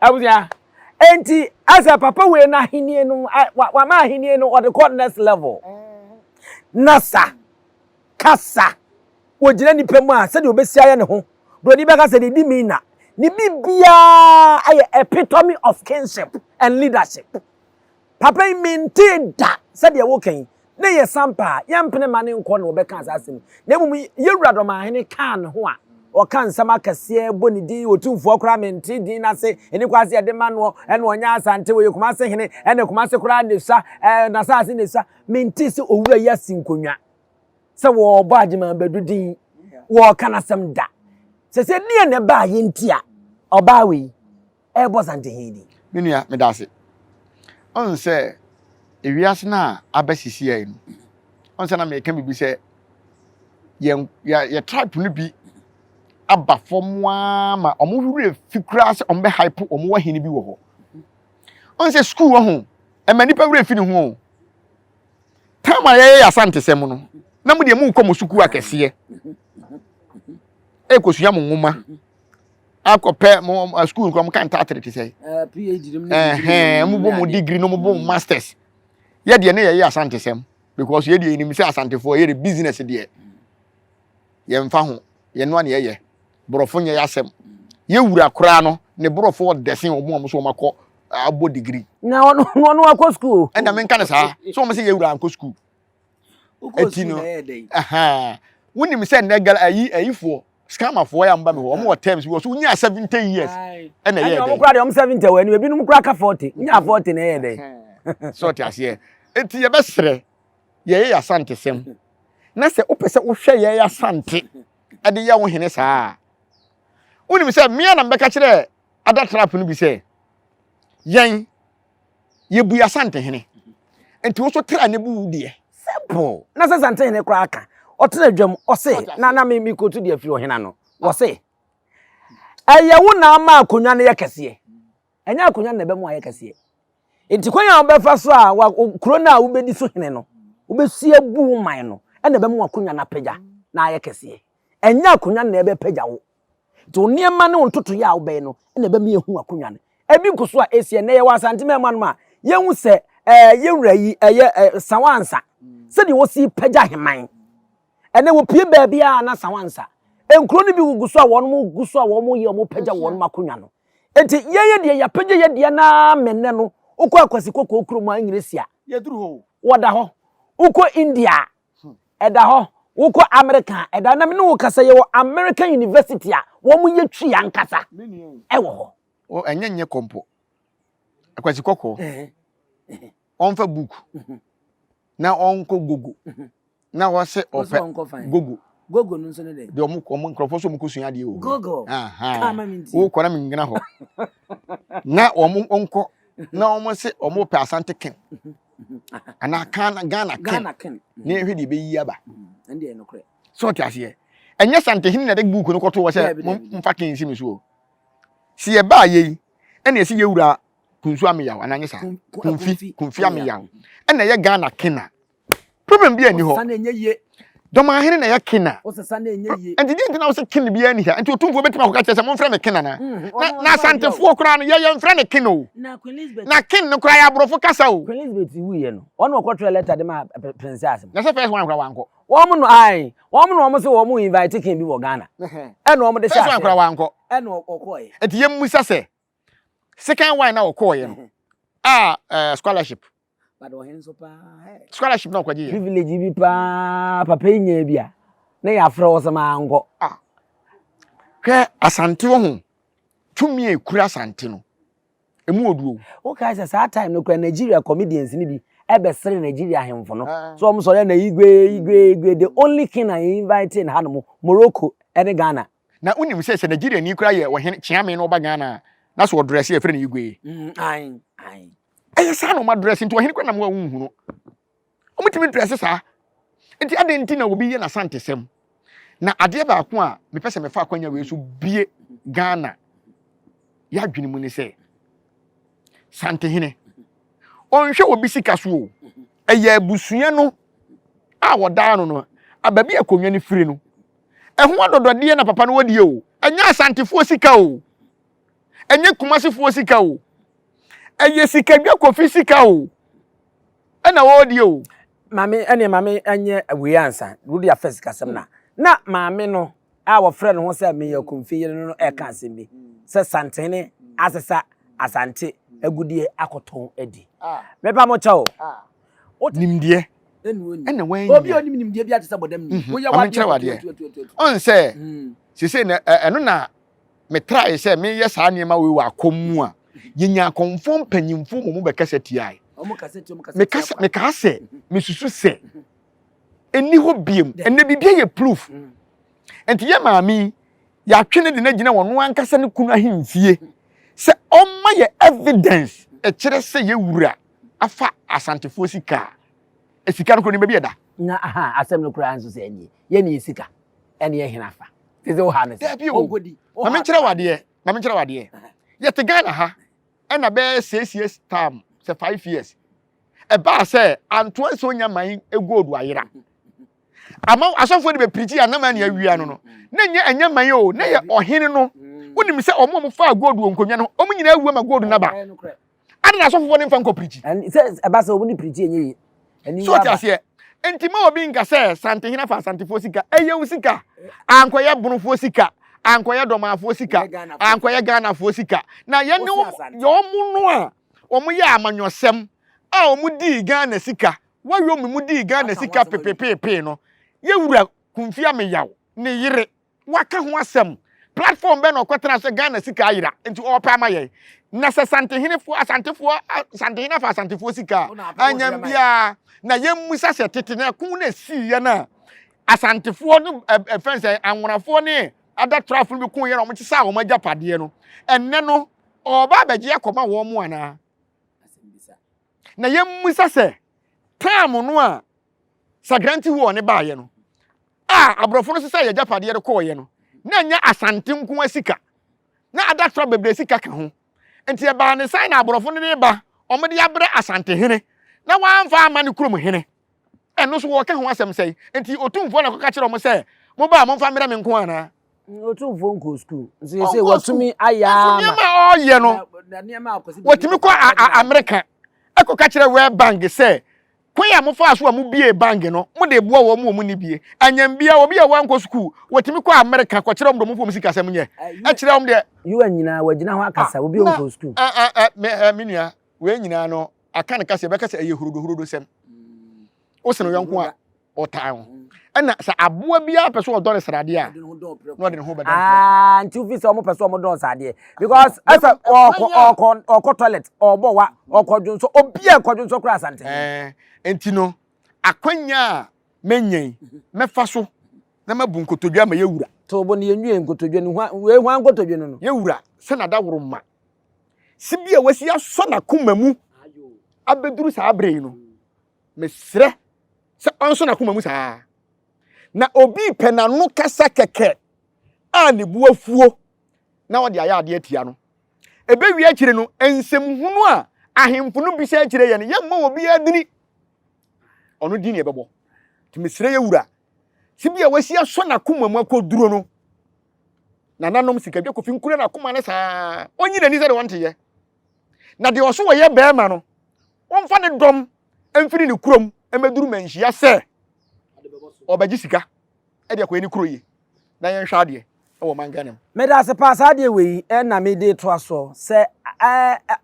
abusua enti asɛ papa wei no ahenni no wama ahenni no ɔde kɔ next level na sa kasa wɔgyina nnipa mu a sɛdeɛ ɔbɛsi ayɛ ne ho buroni bɛka sɛ dedi mi na ne biribiara ayɛ epitome of kingship and leadership Papa yi mentee da sɛdeɛ woka yi, ne yɛ sampa a, yɛmpene mma ne nkɔ na wɔbɛkaa saa asɛm yi, na mmom yɛwura Dɔmahene kaa ne ho a, ɔka nsɛm akɛseɛ bɔ ne din, Otumfoɔ koraa mentee din no ase, ɛni kwan sɛ yɛde ma noɔ, ɛna ɔnyɛ Asante, ɔyɛ Kumase hene, ɛna Kumase koraa na ɛsua, ɛɛ n'asaase na ɛsua, mentee sɛ owura yi asi nkonnwa sɛ wɔrebɔ Agyeman Badu din, wɔreka n'asɛm da. Sɛsɛ deɛ na ɛbaa yɛn nti a ɔbaa wei. ɛrebɔ zanteheehi di. Me nua, meda ase. Ɔn sɛ ewiase no a aba sisiɛe no, ɔn sɛ na meka biribi sɛ yɛn yɛ tribe no bi aba fam ara ma wɔn werɛ fi koraa sɛ wɔn bɛ hype wɔn wɔ hene bi wɔ hɔ. Ɔn sɛ sukuu wɔ ho, ɛma nipa werɛ fi ne ho o. Tam a yɛyɛ yɛ asantesɛm no, na mo deɛ mo kɔ mo sukuu akɛseɛ, ɛkɔsua mo nwoma. akɔpɛ mo eh, school nkɔ mo ka ntatere te sɛ eh, phd nom ɛhɛn mo bɔ mo degree nom bɔ mo masters yɛ deɛ ne yɛyɛ asantesɛm because yɛ deɛ yɛnim sɛ asantefoɔ yɛ de business deɛ yɛmfa ho yɛnoa ne yɛyɛ borɔfo nyɛ yɛ asɛm yɛwura koraa no ne borɔfo ɔdɛsen ɔmo a mo so ɔmo akɔ abɔ degree na ɔno ɔno akɔ school ɛna menka ne saa sɛ ɔmo sɛ yɛwura ankɔ school eti no ɛhaa wonim sɛ nnɛ gala ayi ayifoɔ scammerfoɔ yɛ a mo ba mi hɔ wɔn wɔ terms bi wɔ so wonya seventy years ɛna ɛyɛ dɛ ɛna wɔn kura deɛ wɔn seventy wɔ anim ebinom kura ka forty nya forty na ɛyɛ dɛ sɛ ɔte aseɛ eti yɛ bɛ srɛ yɛ yɛ yasante sɛm na sɛ wopɛ sɛ wohwɛ yɛ yasante ɛde yɛ wo hene saa wonim sɛ mmea na mbɛka kyerɛ ada trap no bi sɛ yɛn yɛbui Asantehene. Nti wo so tra ne bu wo deɛ. Simple. Na sɛ Asantehene koraa ka, ɔtena dwam, ɔse, na na me mekɔtu deɛ afiri ɔhena no, wɔse, ɛyɛ wo na ama akonnwa no yɛ kɛseɛ. Ɛnyɛ akonnwa no na ɛbɛma ayɛ kɛseɛ. Nti kwan a wobɛfa so a wa, kuro no a wobɛdi so hene no, wobɛsi abu wo man no, ɛna ɛbɛma akonnwa no apagya na ayɛ kɛseɛ. Ɛnyɛ akonnwa no na ɛbɛpagya wo. Nti wo nneɛma ne wo ntotoeɛ a wobɛyɛ no na ɛbɛma yɛahu w'akonnwa no. Ɛbi nko so a ɛsi ɛnnɛ yɛwɔ Asante man mu anom a yɛhu sɛ ɛɛ yɛn wura yi ɛyɛ ɛɛ Sawansa sɛdeɛ wɔsi pagya heman. Ɛnɛ wɔpie baabi a na Sawansa. Nkuro no bi gugu so a wɔn gu so a wɔn yɛ wɔn pagya wɔn akonnwa no. Nti yɛyɛ deɛ yɛapagya yɛ deɛ naa mennɛ no wokɔ akwasi kɔkɔɔ kurom a nyina si a. Yɛduru hɔ. Wɔda hɔ. Wokɔ India a Ɛda hɔ, wokɔ Amerika a, ɛda na me ne wo kasa yɛwɔ American University a wɔn yɛ twi ankasa ɛwɔ hɔ. O ɛnyɛ nyɛ kɔ mpo. Akwasi kɔkɔɔ. Ɔnfa book na ɔnkɔ gogo na ɔse ɔpɛ gogo. Gogo no nso ne dɛ. De ɔmo ɔmo nkorɔfoɔ so ɔmo kɔ sua adeɛ wɔ. Gogo. Kama mi nti. Wokɔ na mi ngyina hɔ. Na ɔmo ɔnkɔ na ɔmo se ɔmo pɛ Asante Ken. anaa kan ghana ken na yɛhwɛ deɛ ɛbɛyi aba sɛ ɔte aseɛ ɛnyɛ santehene na ɛde buuku no kɔto hɔ sɛ momfa ken si me so o sɛ yɛbaa yei ɛna ɛsɛ yɛwura kunsu ameyaw anaa nyɛ saa kunfi kunfi ameyaw ɛna ɛyɛ ghana ken a Problem bi ani hɔ. Dɔm ahene na ɛyɛ kin na. Nti di nti na wosɛ kin bi ani ha. Nti otumfoɔ bɛtumi akɔka kyerɛ sɛ momfrɛ me kin ana. Mm, na na asantefoɔ koraa no yɛyɛ mfrɛ ne kin o. Na kin no koraa yɛ aborɔfo kasa o. Queen Elizabeth wuiɛ no wɔn na wɔkɔtwerɛ lɛta de ma prince asem. Na sɛ first one koraa wankɔ. Wɔn no ae wɔn na wɔn se wɔn invite kin bi wɔ Ghana. Ɛna wɔn de hyɛ aseɛ. First one koraa wankɔ. Ɛna ɔkɔɛ. Nti yɛn musa sɛ. second one na ɔkɔɔ yɛ no a eh, scholarship scholarship na ɔkɔgye yɛ privilege bi paa papa yi nyɛ bi a na yɛafrɛ wo sɛ maa nkɔ ah. hwɛ asante wɔ ho tumi a ɛkura asante no ɛmu wɔ duo wokae sɛ saa time no kora nigeria comedians no bi ɛbɛsere nigeria ahemfo no ah. so ɔm sɔre na igwe igwe igwe the only king a invite in ha no mo morocco ɛne ghana Na wonim sɛ sɛ Nigeriani koraa yɛ ɔhene Kyeame na ɔba Ghana a, na so ɔdrɛse a yɛfrɛ no Igwe. Mm, ae, ae. Ɛyɛ saa na ɔmadrɛse nti ɔhene koraa nam hɔ a wonhu no. Ɔmutumi drɛse saa. Nti adɛn nti na obi yɛ n'asantesɛm? Na adeɛ baako a mepɛ sɛ mefa akwanya wei so bie Ghana yɛadwene mu ne sɛ Santehene ɔnhwɛ obi sika so o. Ɛyɛ abusua no a wɔdaa no no, baabi a akonnwa no firi no. Ɛho adɔdɔdeɛ na papa no wɔ deɛ o. Ɛnyɛ asantefoɔ sika o. Ɛnyɛ kumasefoɔ sika o. Ɛyɛ sikadwa kofi sika o. Ɛna ɔwɔ deɛ o. Maame ɛneɛ maame ɛnyɛ wei ansa. Wode afɛ sikasɛm na. Na maame no a wɔfrɛ ne ho sɛ Mayor Komfi yere no no ɛka asɛm bi sɛ Santene asesa Asante agudeɛ akɔtɔn adi. Mepa mo kyɛw. nimdeɛ ɛna wɔanya obi a ɔnim nimdeɛ bi ate sɛ bɔdam ni mhm. woyɛ wadeɛ wadeɛ ɔn sɛ mhm. sese na ɛno na metrae sɛ meyɛ saa nneɛma wei wɔ akɔm mu a yɛnya akɔmfoɔ mpanyimfoɔ wɔ mu bɛkasa tiae mekaa sɛ mhm. mesusu sɛ ɛni hɔ biam ɛnɛ biribia yɛ proof nti yɛ maame yɛatwe no de no agyina wɔn ankasa ne kunu ahemfie sɛ ɔmma yɛ evidence ɛkyerɛ sɛ yɛwura afa Asantefoɔ sika a, sika no koro ne baabi ɛda. Na aha, asɛm no koraa nso sɛ ɛneɛ, yɛ ne yɛ sika, ɛne yɛ hena fa? Te sɛ woha no sɛ, ɔnkɔdi. Ma menkyerɛ wo adeɛ, ma menkyerɛ wo adeɛ. Yɛte Ghana ha, ɛna bɛyɛ six years term, sɛ five years. Ɛbaa sɛ, Antoa Nso Nya Man gold ayera. Ama asɔfoɔ de bɛpirikyi a, na man ne awia no no. Na nyɛ ɛnyɛ man o, na yɛ ɔhene no. Wonim sɛ ɔmo a ɔmo faa gold wɔ nkonnwa no ho, ɔmo nyinaa awu ama gold no aba. Ade na asɔfofoɔ no mfa nkɔ pirikyi. Ɛn, sɛ ɛba sɛ wɔn ne pirikyi ɛnyɛ yie. Ɛni So wo aba. teaseɛ? Nti ma obi nka sɛ Santehene afa Asantefoɔ sika. Ɛyɛ wo sika. Ankɔyɛ Bonofoɔ sika. Ankɔyɛ Dɔmaafoɔ sika. Ɛnyɛ Ghanafoɔ sika. Ankɔyɛ Ghanafoɔ sika. Na yɛn ne Wosi wɔn, Asante. yɛ wɔn no a wɔn yɛɛ amanyɔsɛm a wɔn dii Ghana sika, Wayɔmi mu dii Ghana Waka ho sika asɛm awie. pepepeepee no, yɛ Wura Kumfi Ameyaw ne yere. Waka ho asɛm. Platform bɛn na ɔkɔtena sɛ Ghana sika ayera nti ɔɔpɛ ama yɛn? Na sɛ Santehenefoɔ, Asantefoɔ, Santehene afa Asantefoɔ sika a, annya biaa. Na yɛmmisa sɛ tete no ɛko na ɛsiiɛ no a, Asantefoɔ ne ɛfɛn sɛ Anwonafoɔ ne Adatrafoɔ no bɛkoeɛ na wɔkyesaa wɔn agyapadeɛ no, ɛnnɛ no ɔɔba abɛgye akɔma wɔn anaa? na yɛmmisa sɛ taam no a Sagrante Huon no baeɛ no a aborɔfo no sesae agyapadeɛ no kɔeɛ no na ɛnyɛ Asante nko ara sika na Adatraw bebree sika ka ho. Nti ɛbaa ne sɛn na aborɔfo no de ba wɔde abrɛ Asante hene na wɔamfa amma ne kurom hene? Ɛno nso, wɔka ho asɛm sɛn? Enti Otumfoɔ na ɛkɔka kyerɛɛ wɔn sɛ, Moba a, momfa mmrɛ me nko anaa? Otumfoɔ nkɔɔ sukuu. Nso yɛ sɛ watumi ayɛ ama. Nso nneɛma a ɔreyɛ no, watumi kɔ Amerika kɔka kyerɛ World Bank sɛ, Kwan a mofaa so a mubiee bank no, mode reboa wɔn a wɔn nni bie. Anyɛm biara, obi a wankɔ sukuu, watumi kɔ Amerika kɔkyerɛ wɔn deɛ wɔmfa wɔn sikasɛm nyɛ, kyerɛ wɔn deɛ. UN nyinaa, wagyina hɔ akasa, obi a ɔnkɔɔ sukuu. Me nua, wei nyinaa no, aka no kasa yɛbɛka sɛ ɛyɛ hurodohurodo sɛm wo sene yɔnko a ɔtaa ho ɛna sɛ aboa biara pɛ sɛ ɔdɔ ne sradeɛ a na ɔde ne ho bɛdɔ ah, nti wofi sɛ ɔmopɛ sɛ ɔmodɔ sradeɛ because ɛsɛ ɔkɔ toilet ɔbɔ wa ɔkɔdwo nsɔ obia kɔdwo nsɔ kora asante nti no akwanya a mɛnyɛn mɛfa so na mabu nkotodwe ama yɛwura tobo ne yɛnwie nkotodwe no hwan nkotodwe no no yɛwura sɛ nada woro ma si bi a wasi asɔ n'akoma mu abɛduru saa berɛ yi no mesrɛ sɛ ɔnsɔ n'akoma mu saa na obi pɛ n'ano kasa kɛkɛ a ne bu afuo na ɔde ayɛ adeɛ atia no ɛbɛwie akyire no nsɛm hunu a ahemfo no bisa akyire yɛ no yɛmmɔ wɔ bi adini ɔno din ne ɛbɛbɔ nti mesrɛ yɛ wura si bi a wasi asɔ n'akoma mu akɔduro no nananom sikadwa kofi nkura n'akoma no saa ɔnyi n'ani sɛdeɛ ɔnteyɛ na deɛ ɔso wɔyɛ bɛrima no wɔmfa ne dɔm mfiri ne kurom mmɛduru manhyia sɛ ɔbɛgye sika ɛde akɔyɛ ne kuro yie na yɛnhwɛ adeɛ ɛwɔ man Ghana mu. Meda ase paa saa adeɛ wei na mede to asoɔ sɛ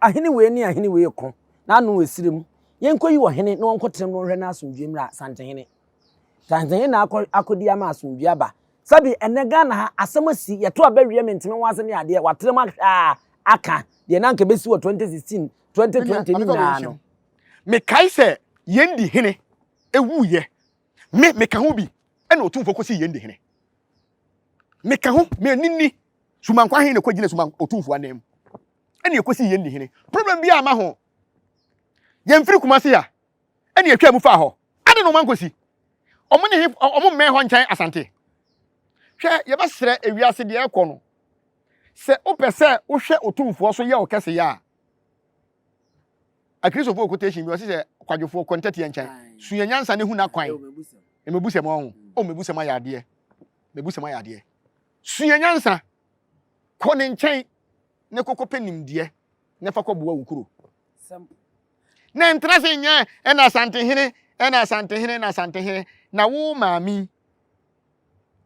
ahene wei ne ahene wei ko na ano ɛsire mu yɛnkɔyi wɔ hene na wɔnkɔtena mu wɔnhwɛ no asomdwe mmra santehene santehene na akɔdi ama asomdwe aba Sɛbi ɛnɛ Ghana ha asɛm asi yɛto aba wie menteme ho asɛm yɛ adeɛ watere mu ahwɛ a aka deɛ na anka bɛsi wɔ 2016 2020 ne nyinaa no. Mekae sɛ Yendi Hene wuiɛ me meka ho bi ɛna Otumfoɔ kɔsii Yendi Hene meka ho me ani nni Sumankwa he na ɛkɔgyina Suma Otumfoɔ anan mu ɛna ɛkɔsii Yendi Hene problem bi a ma ho yɛmfiri Kumasi a ɛne ɛtwaa mu faa hɔ. Ade na ɔma nkosi. Ɔmo ne he, ɔmo mmɛn hɔ nkyɛn Asante. Hwɛ, yɛbɛsrɛ ewiase deɛ ɛrekɔ no. Sɛ wopɛ sɛ wohwɛ Otumfoɔ so yɛ wo kɛseyɛ a, Akristofoɔ quotation bi ɔse sɛ kwadwofoɔ kɔ ntɛteɛ nkyɛn, sua nyansa na hu n'akwan. Mmebusɛm ɔho. O mmebusɛm ayɛ adeɛ. Mmebusɛm ayɛ adeɛ. Sua nyansa, kɔ ne nkyɛn ne kɔkɔpɛ nimdeɛ na fa kɔboa wo kuro. na ntena se nyɛ ɛna asantehene ɛna asantehene na asantehene na wo maame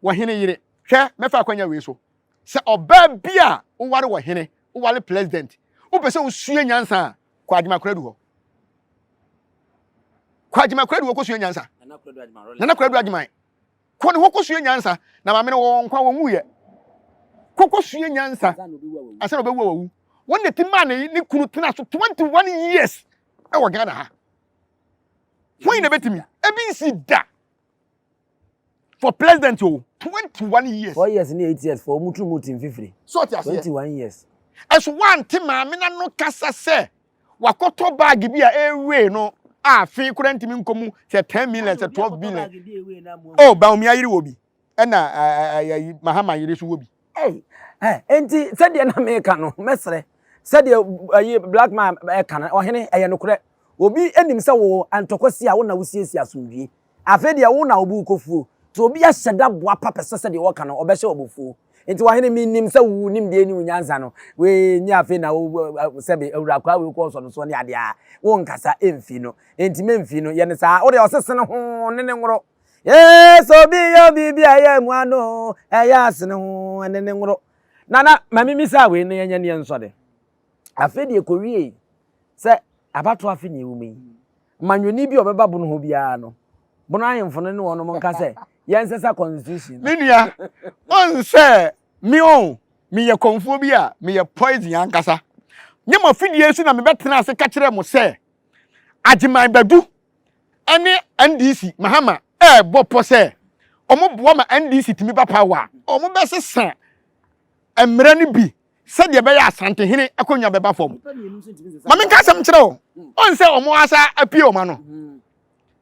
wɔ hene yere hwɛ mɛfa akwanya wei so sɛ ɔbaa bi a woware wɔ hene woware president wopɛ sɛ wosua nyansa a kɔ adwemakora du hɔ kɔ adwemakora du hɔ kɔsua nyansa nana kora du adwuma nana kora du adwuma Kɔ ne hɔ kɔsua nyansa. Na maame no wɔwɔ nkwa, wɔnwuiɛ. Kɔ kɔsua nyansa ansa na ɔbɛwu a wawu. Wɔn na ɛti maa ne ne kunu tena so 21 years wɔ Ghana ha. Wɔn na ɛbɛtumi. Ebi nsi da for president o 21 years. 4 years ne 8 years for wɔn tiri mu ti mfifiri. So ɔte aseɛ. 21 years. Ɛso wɔante maame no ano kasa sɛ. wakɔtɔ baage bi a ɛwee no a fe koraa ntumi nkɔ mu sɛ ten million sɛ twelve billion o baomi ayere wɔ bi ɛna ɛyɛ mahama yere so wɔ bi. nti sɛdeɛ na meka no mɛsrɛ sɛdeɛ ɛyi black man ɛka no ɔhene ɛyɛ nokorɛ obi anim sɛ wo antɔkɔsi a wo na wosiesie asomdwie Afei deɛ wo na wo bo rekɔfuo, nti obi ahyɛ da boapa pɛ sɛ sɛdeɛ wɔka no ɔbɛhyɛ wo abufuo. Nti w'ahene mennim sɛ wo nimdeɛ ne wo nyansa no wei nyɛ afei na wo sɛbe awura akwaa wei kɔɔ sɔ no soɔ ne adeɛ a wo nkasa mfi no nti mɛmfi no yɛ no saa wo deɛ ɔse sene ho ne ne nworo ee sɛ obi yɛ obi bi a ɛyɛ mu ano ɛyɛ asene ho ne ne nworo nana ma mimi saa wei ne ɛnyɛ neɛ nsɔde afei deɛ kɔwie sɛ abato afe ne ɛwɔ mu yi Manyoni bi a ɔbɛba bono hɔ biara no, bono ahemfo no ne wɔnom nka sɛ, Yɛnsesa constitution no. Me nua, ɔn sɛ me ɔn, meyɛ kɔmfoɔ bi a, meyɛ poison ankasa. Nyɛ mo afidie so na mebɛtena ase ka kyerɛɛ mo sɛ, Agyeman Badu ne NDC, Mahama, ɛɛbɔ pɔ sɛ wɔboa ma NDC tumi ba power a, wɔbɛsesa mmara no bi sɛdeɛ ɛbɛyɛ Asantehene akonnwa bɛba fam. Ma menka asɛm nkyerɛ wo, ɔn sɛ wɔn asa apue wɔn ano.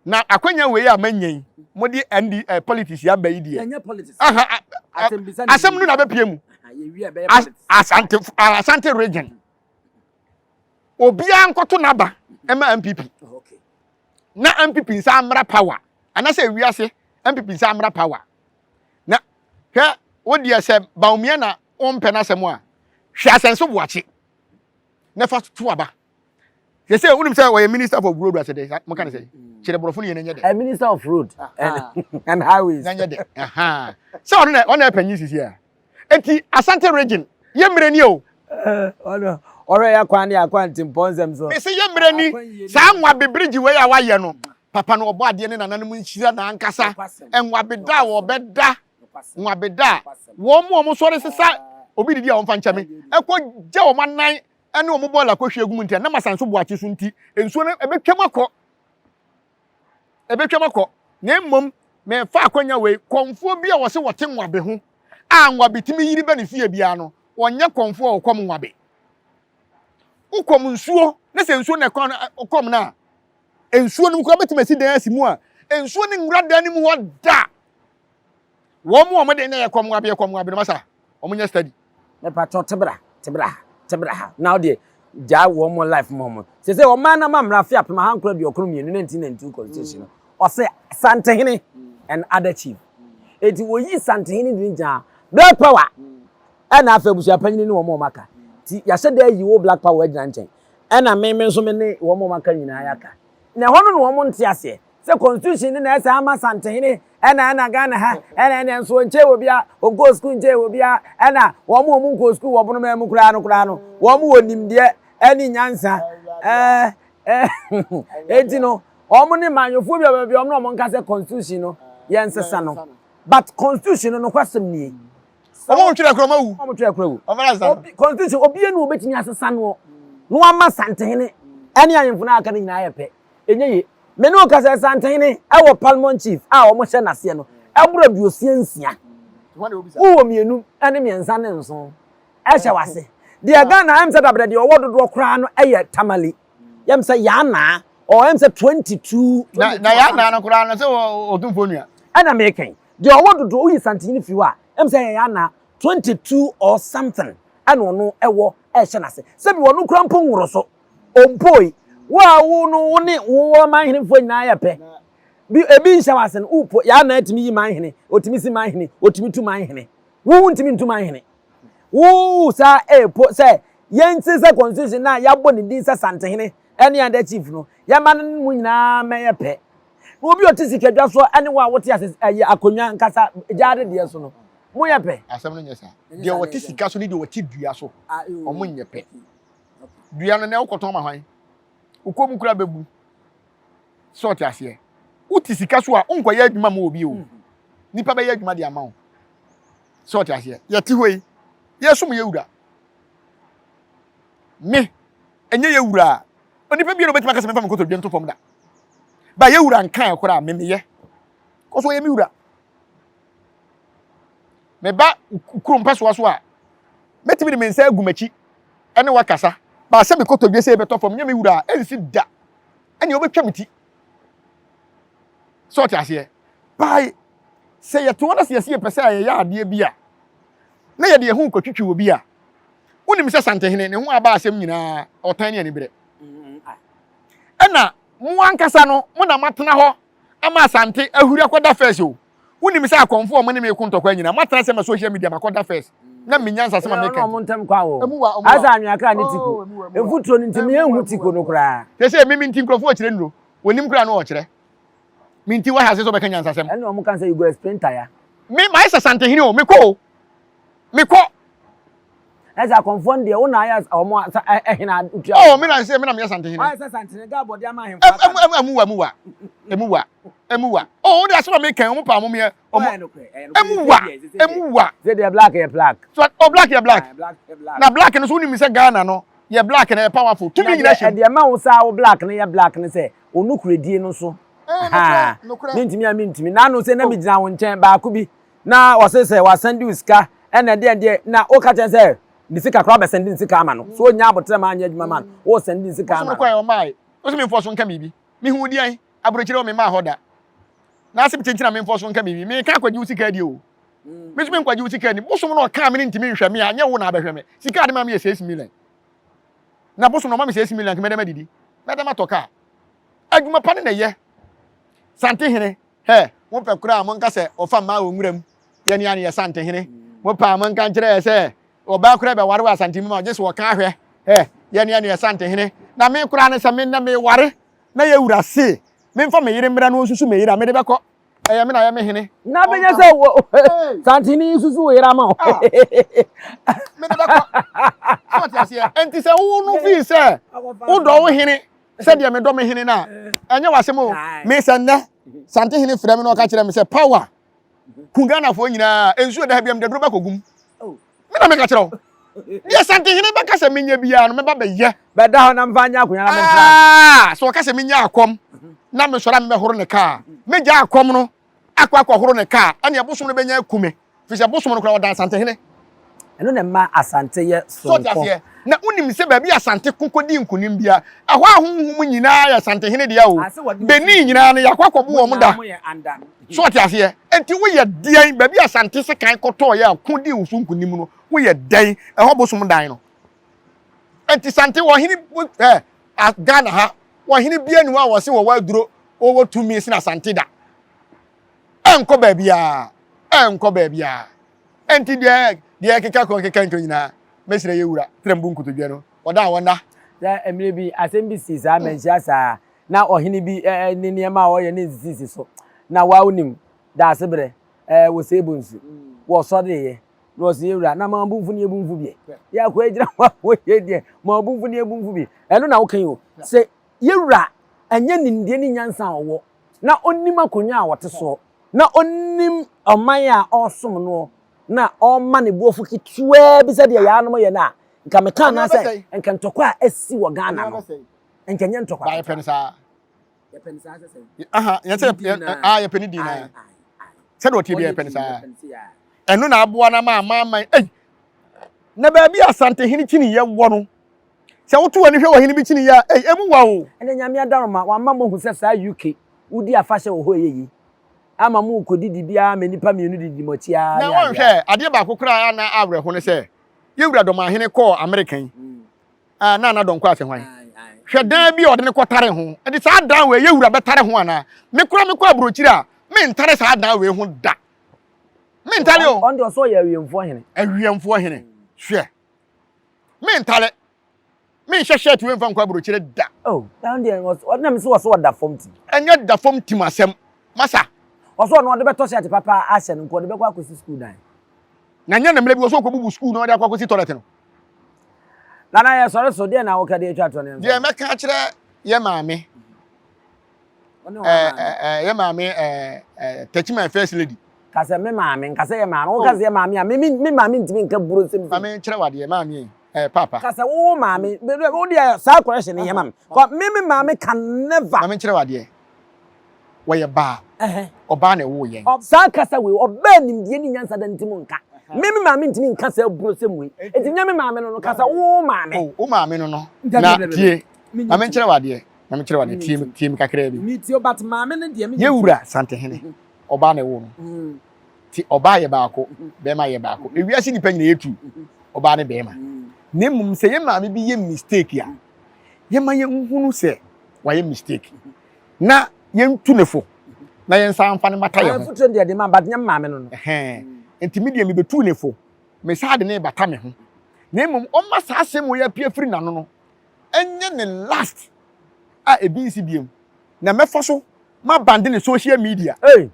Na akonnwa wei a manya yi, mode ND eh, politics yi aba yi deɛ. Aha, asɛm no na bɛpie mu. Asante, Asante region. Obiara nkɔto n'aba ɛma MPP. Na MPP nsa mmra power. Anasɛ wiase MPP nsa mmra power. Na hwɛ wo deɛ sɛ Bawumia na wompɛ n'asɛm a hwɛ asɛnso boakye na fa to aba. Sɛ sɛ wonim sɛ wɔyɛ minister for road asɛ dɛ mo ka ne sɛ kyerɛ borɔfo no yɛ n'anyɛ dɛ. Minister of road and highways. N'anyɛ dɛ. Sɛ ɔno na ɔna ɛpanyin sisi a. Eti Asante region yɛ mmerɛ ni o. Ɔno ɔhwɛ yɛ akwan ne akwan timpɔnsɛm so. Mese yɛ mmerɛ ni saa nwa bebrigye wei a wayɛ no Papa no Ɔbɔadeɛ ne nananom nhyira na ankasa Nwabeda a wɔbɛda Nwabeda a wɔn mu a wɔn sɔre sesa obi didi a wɔmfa nkyɛ me ɛkɔ gya wɔn anan ɛne wɔn bɔɔl akɔhwie agu mu nti ɛnam asan so boakye so nti nsuo no ɛbɛtwam akɔ ɛbɛtwam akɔ na mmom mefa akwanya wei kɔmfoɔ bi a wɔse wɔte nwabe ho a nwabe tumi yiri bɛ ne fie biara no wɔnyɛ kɔmfoɔ a wɔkɔm nwabe wokɔm nsuo ne sɛ nsuo na ɛkɔm no a nsuo no mu koraa bɛtumi asi dan asi mu a nsuo no nwura dan no mu hɔ da wɔn mu wɔn de na yɛ kɔm wabe yɛ kɔm wabe no masa wɔn nyɛ study. mepatɔ tebra tebra ha tebra ha na ɔdeɛ gyaa wɔn life mu wɔn sɛ sɛ wɔn mmaa nam amena afe apem ahankoro aduokoro mmienu nineteen ninety two constitution no ɔsɛ santehene and other chief eti wɔyi santehene di gyaa black power ɛna afɛ abusua panyin ne wɔn wɔn aka ti yɛahyɛ dɛ yi wo black power agyina nkyɛn Ɛna me me nso me ne wɔn a wɔaka nyinaa yɛ aka. Na ɛhɔ no na wɔn nte aseɛ sɛ constitution no na ɛsɛ ama Santehene ɛna ɛna Ghana ha ɛna ɛna nso ɔnkyɛe wɔ biara ɔnkɔɔ sukuu nkyɛe wɔ biara ɛna wɔn wɔn nkɔɔ sukuu wɔ bonomaa mu koraa no koraa no wɔn wɔ nimdeɛ ɛne nyansa ɛɛ ɛɛ eti no wɔn ne manyɔfoɔ bi a wɔbɛbi wɔn na wɔn nka sɛ constitution no yɛn nsesa no but constitution no nokwasɛm nie. wɔn twere kura wɔn awu wɔn twere kura awu wɔn fana san constitution obi enu obetumi asesa no na wɔn ama santehene ɛne ahemfo na aka ne nyinaa yɛ pɛ enye ye mene okasa santehene ɛwɔ parliament chief a wɔn hyɛ n'aseɛ no ɛboro aduosia nsia wowɔ mmienu ɛne mmiɛnsa ne nson ɛhyɛ wase deɛ ghana ɛm sɛ dabrɛ deɛ ɔwɔ dodoɔ koraa no ɛyɛ tamale yɛm sɛ yanaa ɔɔ ɛm sɛ twenty two na yanaa no koraa no sɛ ɔtumfoɔ nua ɛna mekɛn Deɛ ɔwɔ dodoɔ woyi santen no firi hɔ a ɛm sɛ ɛyɛ anaa 22 or something ɛna ɔno ɛwɔ ɛhyɛ n'ase sɛbi ɔno kura mpo nworo so ɔmpoi wo a wo no wo ne wo wɔ manhenefoɔ nyinaa yɛ pɛ bi ebi nhyɛ wɔ ase no wopo yɛ anaa ɛtumi yi manhene ɔtumi si manhene ɔtumi tu manhene wo wo ntumi ntu manhene wo saa ɛpo sɛ yɛn ti sɛ constitution na yɛabɔ ne din sɛ santehene ɛne ada chief no yɛma no mu nyinaa mɛyɛ pɛ Wo bi ɔte sika dwa so ɛne wo a wote ase ɛyɛ akonnwa nkasa gyaade deɛ so no mo yɛ pɛ. Asɛm no nyɛ saa. Deɛ ɔte sika so ne deɛ ɔte dua so ɔmo nyɛ pɛ. Dua no nɛ wokɔtɔn ma hwan? Wo kɔn mu kura bɛbu. Sɛ ɔte aseɛ. Wote sika so a wonkɔyɛ adwuma ma obi o. Nipa bɛyɛ adwuma de ama wo. Sɛ ɔte aseɛ. Yɛte hɔ yi yɛsom yɛ wura. Me ɛnyɛ yɛ wura a onipa biara obɛtumi akasa mefa me kotodwe nto fam da. Ba yɛ wura nkae koraa me meyɛ. Kɔ so yɛ me wura. Me ba kuro mpɛsoa so a mɛtumi de me nsa agu m'akyi ɛne wakasa. Ba sɛ me kotodwe sɛ ɛbɛtɔ fam nyɛ me wura a ɛnsi da. Ɛne ɔbɛtwa me ti. Sɛ ɔte aseɛ. Bae sɛ yɛte hɔ na sɛ yɛsi yɛpɛ sɛ yɛyɛ adeɛ bi a na yɛde yɛn ho kɔtwitwi obi a wonim sɛ Santehene ne ho aba asɛm nyinaa ɔtan ne aniberɛ. Ɛna mo ankasa no mo na moatena hɔ ama Asante ahuri akɔda first o. Wonim sɛ akɔmfo a wɔne me reko ntɔkwa nyinaa moatena sɛ ma social media makɔda first na menya nsase ma meka bi. Emu wa, ɔmo wa. Asa anweakra ne tiko. Mfuturo no nti menhu tiko no koraa. Te sɛ emi me nti nkurɔfo wɔ kyerɛ nnuro. Wɔnim koraa no wɔkyerɛ. Me nti woahyɛ ase sɛ wobɛka nyansasɛm. Ɛna ɔmo ka sɛ you go explain tire. Me, mayɛ sɛ Asantehene o, mekɔ o. mekɔ. Ɛsɛ akɔnfoɔ no deɛ wo na ayɛ wɔn ɛhene adutua. Ɔɔ mi na ɛsɛ mi na mi yɛ santehene. Wayɛ sɛ santehene gaa bɔde ama ahemfo aka. Ɛmu ɛmu wa ɛmu wa ɛmu wa ɛmu wa ɔɔ de asɛm a mi kɛn wɔn pa wɔn yɛ wɔn ɛmu wa ɛmu wa. Sɛ deɛ black yɛ black. So ɔ black yɛ black na black no so wuni mi sɛ Ghana no yɛ black na yɛ powerful tumi nyina hyɛ. Ɛdeɛ ma wo saa wo black no yɛ black no sɛ onukuredie no so. Haa mi ntumi a mi ntumi n'ano sɛ na mi gyina wɔn nkyɛn baako bi. na ɔse sɛ wasɛnde wo sika ɛna ɛdeɛn deɛ na woka kyɛn sɛ ne sika koraa bɛsɛnde ne sika ama no so ɔnya abotrɛ ma anyɛ adwuma ma no wosɛnde ne sika ama no. Ɔkɔɛ ɔmaae ɔse memfɔ so nka biribi mehu deɛn aburokyire wɔ memmaa hɔ da na ase nti na memfɔ so nka biribi meka akɔgye wo sika adie o me so menkɔgye wo sika ani bosom na ɔkaa me ne ntimi nhwɛ me a nyɛ wo na abɛhwɛ me sika ade ma me yɛ 6 million na bosom na ɔma me 6 million nka mɛdɛ madidi mɛdɛ matɔ kaa adwuma pa ne na ɛyɛ santehene Hɛ, mo pɛ koraa a monka sɛ wɔfa mmaa wɔ nwura mu yɛ nea ne yɛ Santehene. Mo pɛ a monka nkyerɛ yɛ sɛ ɔbaa koraa bɛware wɔ Asante mu ma wo gye sɛ wɔka ahwɛ hɛ yɛ nea ne yɛ Santehene. Na me koraa no sɛ me nnɛ meware na yɛ wura se memfa me yere mmra na ɔnsusu me yere a, mede bɛkɔ. Ɛyɛ me na yɛ me hene. Na abɛnya sɛ Santehene yi susu wo yere ama wo. Mede bɛkɔ. So ɔte aseɛ? Enti sɛ wo no fii sɛ wodɔ wo hene sɛdeɛ medɔ me hene no a ɛnyɛ w'asɛm o me sɛ nnɛ sante hene frɛ me na ɔka kyerɛ me sɛ power ku ghanafoɔ nyinaa nsuo da ha biam daduro bɛkɔgum me na meka kyerɛ wo deɛ sante hene bɛka sɛ menyɛ biara no mɛba bɛyɛ bɛda hɔ na mfa nyɛ akonya na mentra sɛ ɔka sɛ menya akɔm na mesɔre a mebɛhoro ne kaa mɛgya akɔm no akɔ akɔhoro ne kaa, ɛnneɛ bosom no bɛnya aku me, ɛfiri sɛ bosom no koraa ɔda Asantehene. Ɛno na ɛma Asante yɛ soronko. So wote aseɛ? Na wonim sɛ baabi a Asante ko kɔdi nkonim biara, ɛhɔ ahonhom nyinaa yɛ Asantehene dea o, Benin nyinaa no, yɛakɔ akɔbo wɔn da. So wote aseɛ? Enti woyɛ deɛn? Baabi a Asante sekan kɔtɔeɛ a ko dii wo so nkonim no, woyɛ dɛn? Ɛhɔ bosom dan no. nti sante wɔ hene ɛ eh, ghana ha wɔ hene bia ni hɔ a wɔse wɔwɔ aduro wɔwɔ tumi sena sante da ɛnkɔ baabiaa ɛnkɔ baabiaa nti deɛ deɛ keka kɔ keka nto nyinaa mɛsrɛ yɛ wura tram bu nkotodwe no ɔda a wɔna sɛ mmerɛ bi asɛm bi si saa manhyia saa na ɔhene bi eh, eh, ne nneɛma a ɔyɛ ne nsisisi so na wawo nim daase berɛ eh, wɔ sɛ ebu nsu wɔsɔreeɛ na ɔse yɛ wura na ma ɔbomfo ne ɛbomfo bi yɛ akɔ agyina hɔ wɔ yɛ deɛ ma ɔbomfo ne ɛbomfo bi ɛno na wokan o sɛ yɛ wura ɛnyɛ nimdeɛ ne nyansa a ɔwɔ na ɔnim akonnwa a ɔte soɔ na ɔnim ɔman a ɔresom noɔ na ɔma ne boɔfo ketewa bi sɛdeɛ yɛ anom yɛ no a nka meka anaasɛ nka ntɔkwa a asi wɔ Ghana no nka nyɛ ntɔkwa yɛpɛ no saa sɛ sɛn aha yɛsɛ a yɛpɛ ne din naa sɛdeɛ ɔteɛ bi yɛpɛ no saa ɛno na aboa no ma amaaman ei na baabi a asante hene kyiniyɛ wɔ no sɛ woto w'ani hwɛ wɔ hene bi kyiniyɛ a ei ɛmu wa o ɛnɛ nyame adaroma wama mohu sɛ saa uk wodi afahyɛ wɔ hɔ ɛyɛ yi ama mo kɔdidi biara ma nnipa mmienu didi mo akyi ara na wɔnhwɛ adeɛ baako koraa na awerɛho no sɛ yɛwura dɔmahene kɔɔ amerika yi mm. Ah, na na dɔnkɔ afe hwan? Hwɛ dan bi a ɔde ne kɔtare ho. Ɛde saa dan wei yɛ wura bɛtare ho anaa? Me kora me kɔ aburokyiri a, me ntare saa dan wei ho da. Me ntare o. Ɔnde ɔsɔ yɛ awiemfoɔ hene. Awiemfoɔ hene. Hwɛ. Me ntare. Me nhyɛ shirt wei nfa nkɔ aburokyiri da. Oh, dan deɛ ɔde na me so ɔsɔ ɔda fam tim. Ɛnyɛ da fam tim asɛm. Masa. Ɔsɔ ɔno ɔde bɛtɔ shirt papa ahyɛ no nko ɔde bɛkɔ akɔsi school dan. Na nyɛ ne mmerɛ bi ɔsɔ ɔkɔbubu school na ɔde akɔ akɔsi toilet no. Nana yɛ sɔre so deɛ na wokɛ deɛ atwa toɔ ne mfa. Deɛ mɛka akyerɛ yɛ maame. Yɛ maame touch my first lady. Kasɛ me maame nkasɛ yɛ maame wo kasɛ yɛ maame a me me maame ntumi nka buro nsɛm. Maame kyerɛ wa deɛ maame yɛ eh, papa. Kasɛ wo maame wo deɛ saa correction yɛ maame. Kɔ me me maame can never. Maame kyerɛ wa deɛ wɔyɛ baa, ɔbaa na ɛwoo yɛn. Saa nkasa wei, ɔbaa nimdeɛ ne nyansa da nti mu nka. Me me maame ntumi nka saa aburosɛm wei. Enti nyɛ me maame no no, ka sɛ wo maame. O, wo maame no no. Na tie, ma menkyerɛ wo adeɛ, ma menkyerɛ wo adeɛ, tie me, tie me kakraa bi. Metie o, but maame no deɛ me. Yɛwura Santehene, ɔbaa na ɛwoo no. Nti ɔbaa yɛ baako, bɛrima yɛ baako. Ewiase nnipa nyinaa yɛ two, ɔbaa ne bɛrima. Na mmom sɛ yɛn maame bi yɛ mistake a, yɛma yɛnhunu sɛ wayɛ mistake na yɛntu ne fo na yɛnsa mfa no mmata yɛ ho. Fotuo deɛ de ma but nyɛ maame no no. Nti me deɛ mebetu ne fo, mesaa de no rebata me ho. Na mmom ɔmma saa asɛm wei apue afiri n'ano no ɛnyɛ ne last a ebi nsi biom na mɛfa so mabande ne social media. Ei!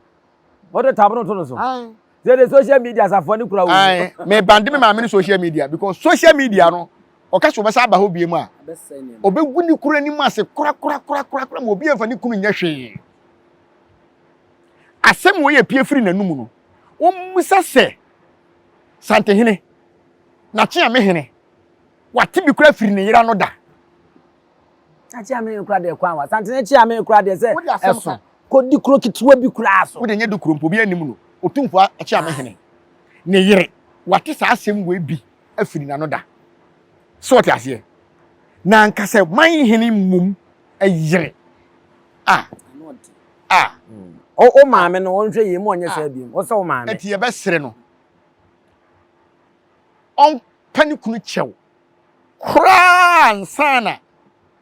o de tab no to no so sɛ de social media asafoɔ ne kura wo mebande me maame no social media because social media no ɔka sɛ ɔbɛsa aba hɔ biem a ɔbɛgu ne kura anim ase korakorakorakorakora ma obi amfa ne kunu nyɛ hwee asɛm wɔ yɛ pie firi n'anum no wɔmmisa sɛ santehene nakye a me hene wate bi kora firi ne yera no da Akyi a meyɛ kura deɛ kwan wa. Santene akyi a meyɛ kura deɛ sɛ ɛso. Kɔdi kuro ketewa bi kura so. Wode nyɛ di kuro mpo obi anim no. Otumfo akyi a mehene. Ne yere wate saa asɛm wei bi afiri n'ano da. So ɔte aseɛ? Na anka sɛ man hene mmom yere a a. O o maame no ɔnhwɛ yie ma ɔnyɛ saa biom. O sɛ o maame. Ɛti yɛbɛsere no ɔmpɛ ne kunu kyɛw. koraa ansa na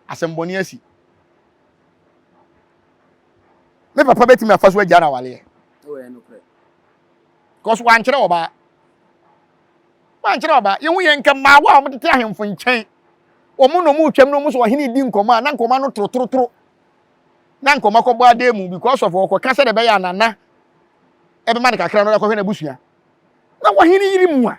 asɛmmɔne asi. Me papa bɛtumi afa so agya no awaleɛ. Because wankyerɛ ɔbaa. Wankyerɛ ɔbaa. Yɛhu yɛn nka mmaa a wɔtete ahemfo nkyɛn. Wɔn na wɔn retwam na wɔn so ɔhene di nkɔmɔ a na nkɔmɔ ano torotorotoro. Na nkɔmɔ akɔbɔ adan mu because of ɔkɔka sɛ ɛbɛyɛ anana ɛbɛma no kakra no ɔkɔhwɛ n'abusua. Na wɔhene yiri mu a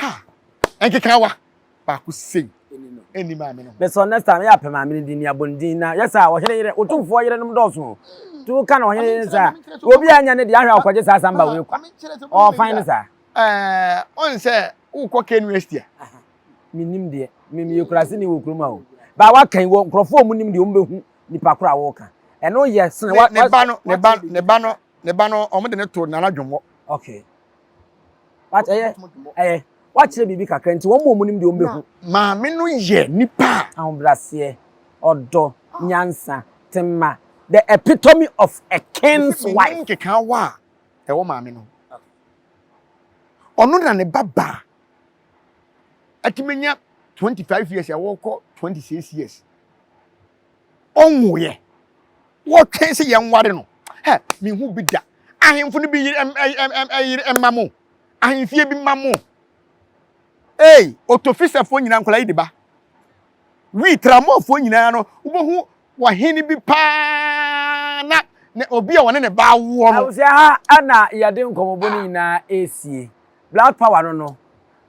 ha nkekawa baako sei ɛni maame no bɛsɛ ɔnɛ saa yɛ apɛ maame no din ni abɔndin na yɛ saa ɔhene yerɛ wotumfoɔ yerɛ nom dɔɔso nti woka na ɔhene yerɛ saa obi anya ne deɛ ahwɛ a ɔkɔgye saa samba wei kwa ɔɔfan no saa ɔn sɛ wokɔ KNUST a menim deɛ memeyɛ kurase ne wɔ kurom a o baa waka yi wɔ nkurɔfoɔ ɔmu nim deɛ ɔmu bɛhu nipa koro a wɔka ɛno yɛ sene ne ba no ne ba no ne ba no ɔmo de ne to nana dwomɔ okay Wate ɛyɛ ɛyɛ wakyerɛ biribi kakra nti wɔn a wɔn nim deɛ wɔn bɛhu. Maame no yɛ nipa a. Ahobraseɛ, ɔdɔ, nyansa, tema, the epitome of a king's wife. Menim nkekaawa a ɛwɔ maame no. Ɔno na ne ba baa. Atumi nya twenty five years a wɔkɔ twenty six years. ɔnwoeɛ. Wɔtwɛn sɛ yɛnware no. Hɛ, menhu bi da. Ahemfo no bi yere yere mma mo. Ahemfie bi mma mo. Ei, Otofisafoɔ nyinaa nkwadaa yi de ba. Wii, Tramɔfoɔ nyinaa no, wobɛhu wɔhene bi paa na na obi a wɔne ne ba awoɔ no. Abusua ha na yɛde nkɔmmɔbɔ no nyinaa ɛresie. Black Power no no,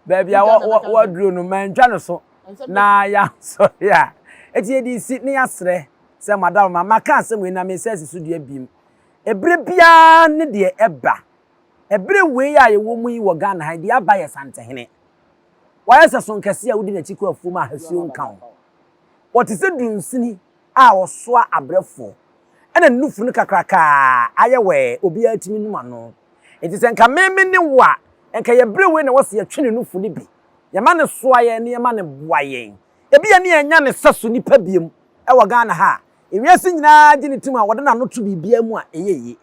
baabi a wɔaduro no, mantwa no so na yɛansɔre a, enti yɛde resi na yɛasrɛ sɛ madam ma maka asɛm wei na mensa asi so dua bim. Ɛberɛ biara ne deɛ ɛba. Ɛberɛ wei a yɛwɔ mu yi wɔ Ghana ha, deɛ aba yɛ Santehene. Wayɛ sɛ sonkɛseɛ a wodi n'akyi kɔ afuom a hasuo nka ho. Ɔte sɛ dunsini a ɔsoa abrɛfoɔ ɛna ne nufu no kakraka a ayɛ wɛɛ obiara tumi num ano nti sɛ nka me me ne wo a nka yɛ brɛ wei na wɔ sɛ yɛtwe ne nufu no bi yɛma no soa yɛn na yɛma no boa yɛn ebia ne yɛn nya ne sɛso nipa biom ɛwɔ Ghana ha a ewiase nyinaa gye ne tim a wɔde n'ano to biribiara mu a ɛyɛ yie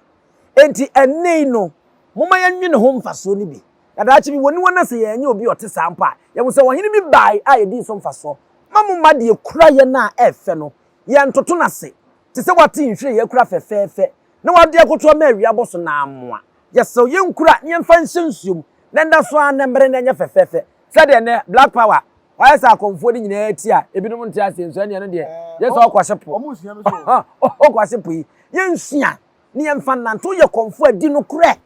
enti ɛnɛ yi no momma yɛnwe ne ho mfasoɔ no bi. Na daakye bi, wɔaniwa na sɛ yɛannya obi a ɔte saa mpo a, yɛahu sɛ ɔhene bi bae a yedii so mfasoɔ. Mma mo mma deɛ ɛkura yɛn a ɛyɛ fɛ no, yɛntoto no ase te sɛ wɔate nhwiren a ɛkura fɛfɛɛfɛ na wɔde akoto ama awia abɔ so no ara mmoa. Yɛsrɛ wo, yɛnkura na yɛmfa nhyɛ nsuo mu na ɛnda so ara na ɛmmere na ɛnyɛ fɛfɛɛfɛ sɛdeɛ ɛnnɛ Black Power ayɛ sɛ akɔmfoɔ no nyinaa ti a ebinom nte aseɛ nso, ɛnneɛ ɛno deɛ yɛ sɛ ɔkwase po, ɔkwase po yi. Yɛnsua na yɛmfa nnante. Woyɛ kɔmfoɔ a di nokorɛ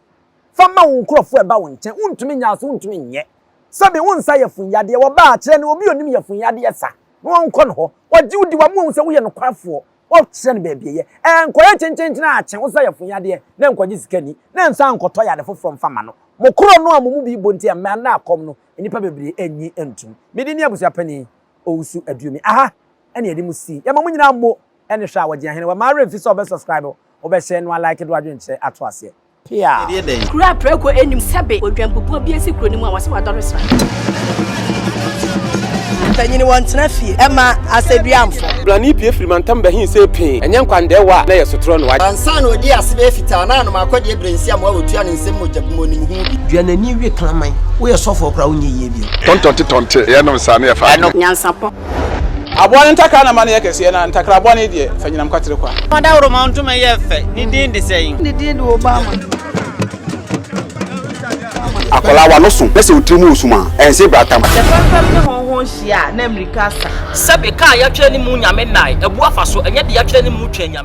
Fa ma wo nkurɔfoɔ a ɛba wo nkyɛn, wontumi nnyaa so, wontumi nnyɛ. Sɛbe wo nsa yɛ funyadeɛ, wɔbaa, kyerɛ no, obi a ɔnim yɛ funyadeɛ sa, na ɔnkɔ ne hɔ. Ɔgye wo di, wama wahu sɛ woyɛ nokwafoɔ, wokyerɛ no baabi ɛyɛ. Ɛnkɔyɛ kyenkyenkyen ara kye wo nsa yɛ funyadeɛ, na ɛnkɔgye sika nni, na ɛnsan nkɔtɔ yare foforɔ mfa mma no. Mo korɔ no a mo mu bi bɔ nti, ɛmmaa nnɛ akɔm no, nnipa bebree nnye ntom. Me din ne Abusua Panin Owusu Aduomi. Aha ɛne yɛde mo si. Yɛma mo nyinaa mo ɛne hwɛ a wɔgye ahene. Wamma werɛ mfi sɛ wobɛ subscribe, wobɛ share, na woa like de w'adwenkyerɛ ato aseɛ. Pia! Kuro a prɛko nnim sɛbe odwanpupuo bi asi kuro no mu a wɔse wadɔre sra. Mpanyini wɔntena fie ɛma asɛduamfo. Brane pue firi mantam bɛhe sei pee ɛnyɛ nkwandɛɛ wa na yɛ sotorɔ no wa. Ansa na ɔdi ase bɛyɛ fitaa na anom akɔ deɛ brɛnsi amoa a ɔtua no nsam mogya bi mu ɔnim ho bi. Dua n'ani we kraman. Woyɛ sɔfoɔ koraa wonyɛ yie bio. Tɔntɔnte tɔnte yɛnom saa na yɛfa adwene. Nyansapɔ. Aboa no ntakra na ma no yɛ kɛseɛ, na ntakra bɔne deɛ, fa nyinam kwatere kwa. Fa dawuroma ntoma yɛ fɛ, ne din de sɛn? Ne din de Obama. Akwadaa w'ano so na sɛ wo tiri mu resum a, ɛnse brata ma. Sɛ fɛmfɛm ne hɔnhɔn hyia a, na mmirika asa. Sɛbe, ka a yɛatwerɛ ne mu Nyame nnae, abu afa so, ɛnyɛ deɛ yɛatwerɛ ne mu twa anyame.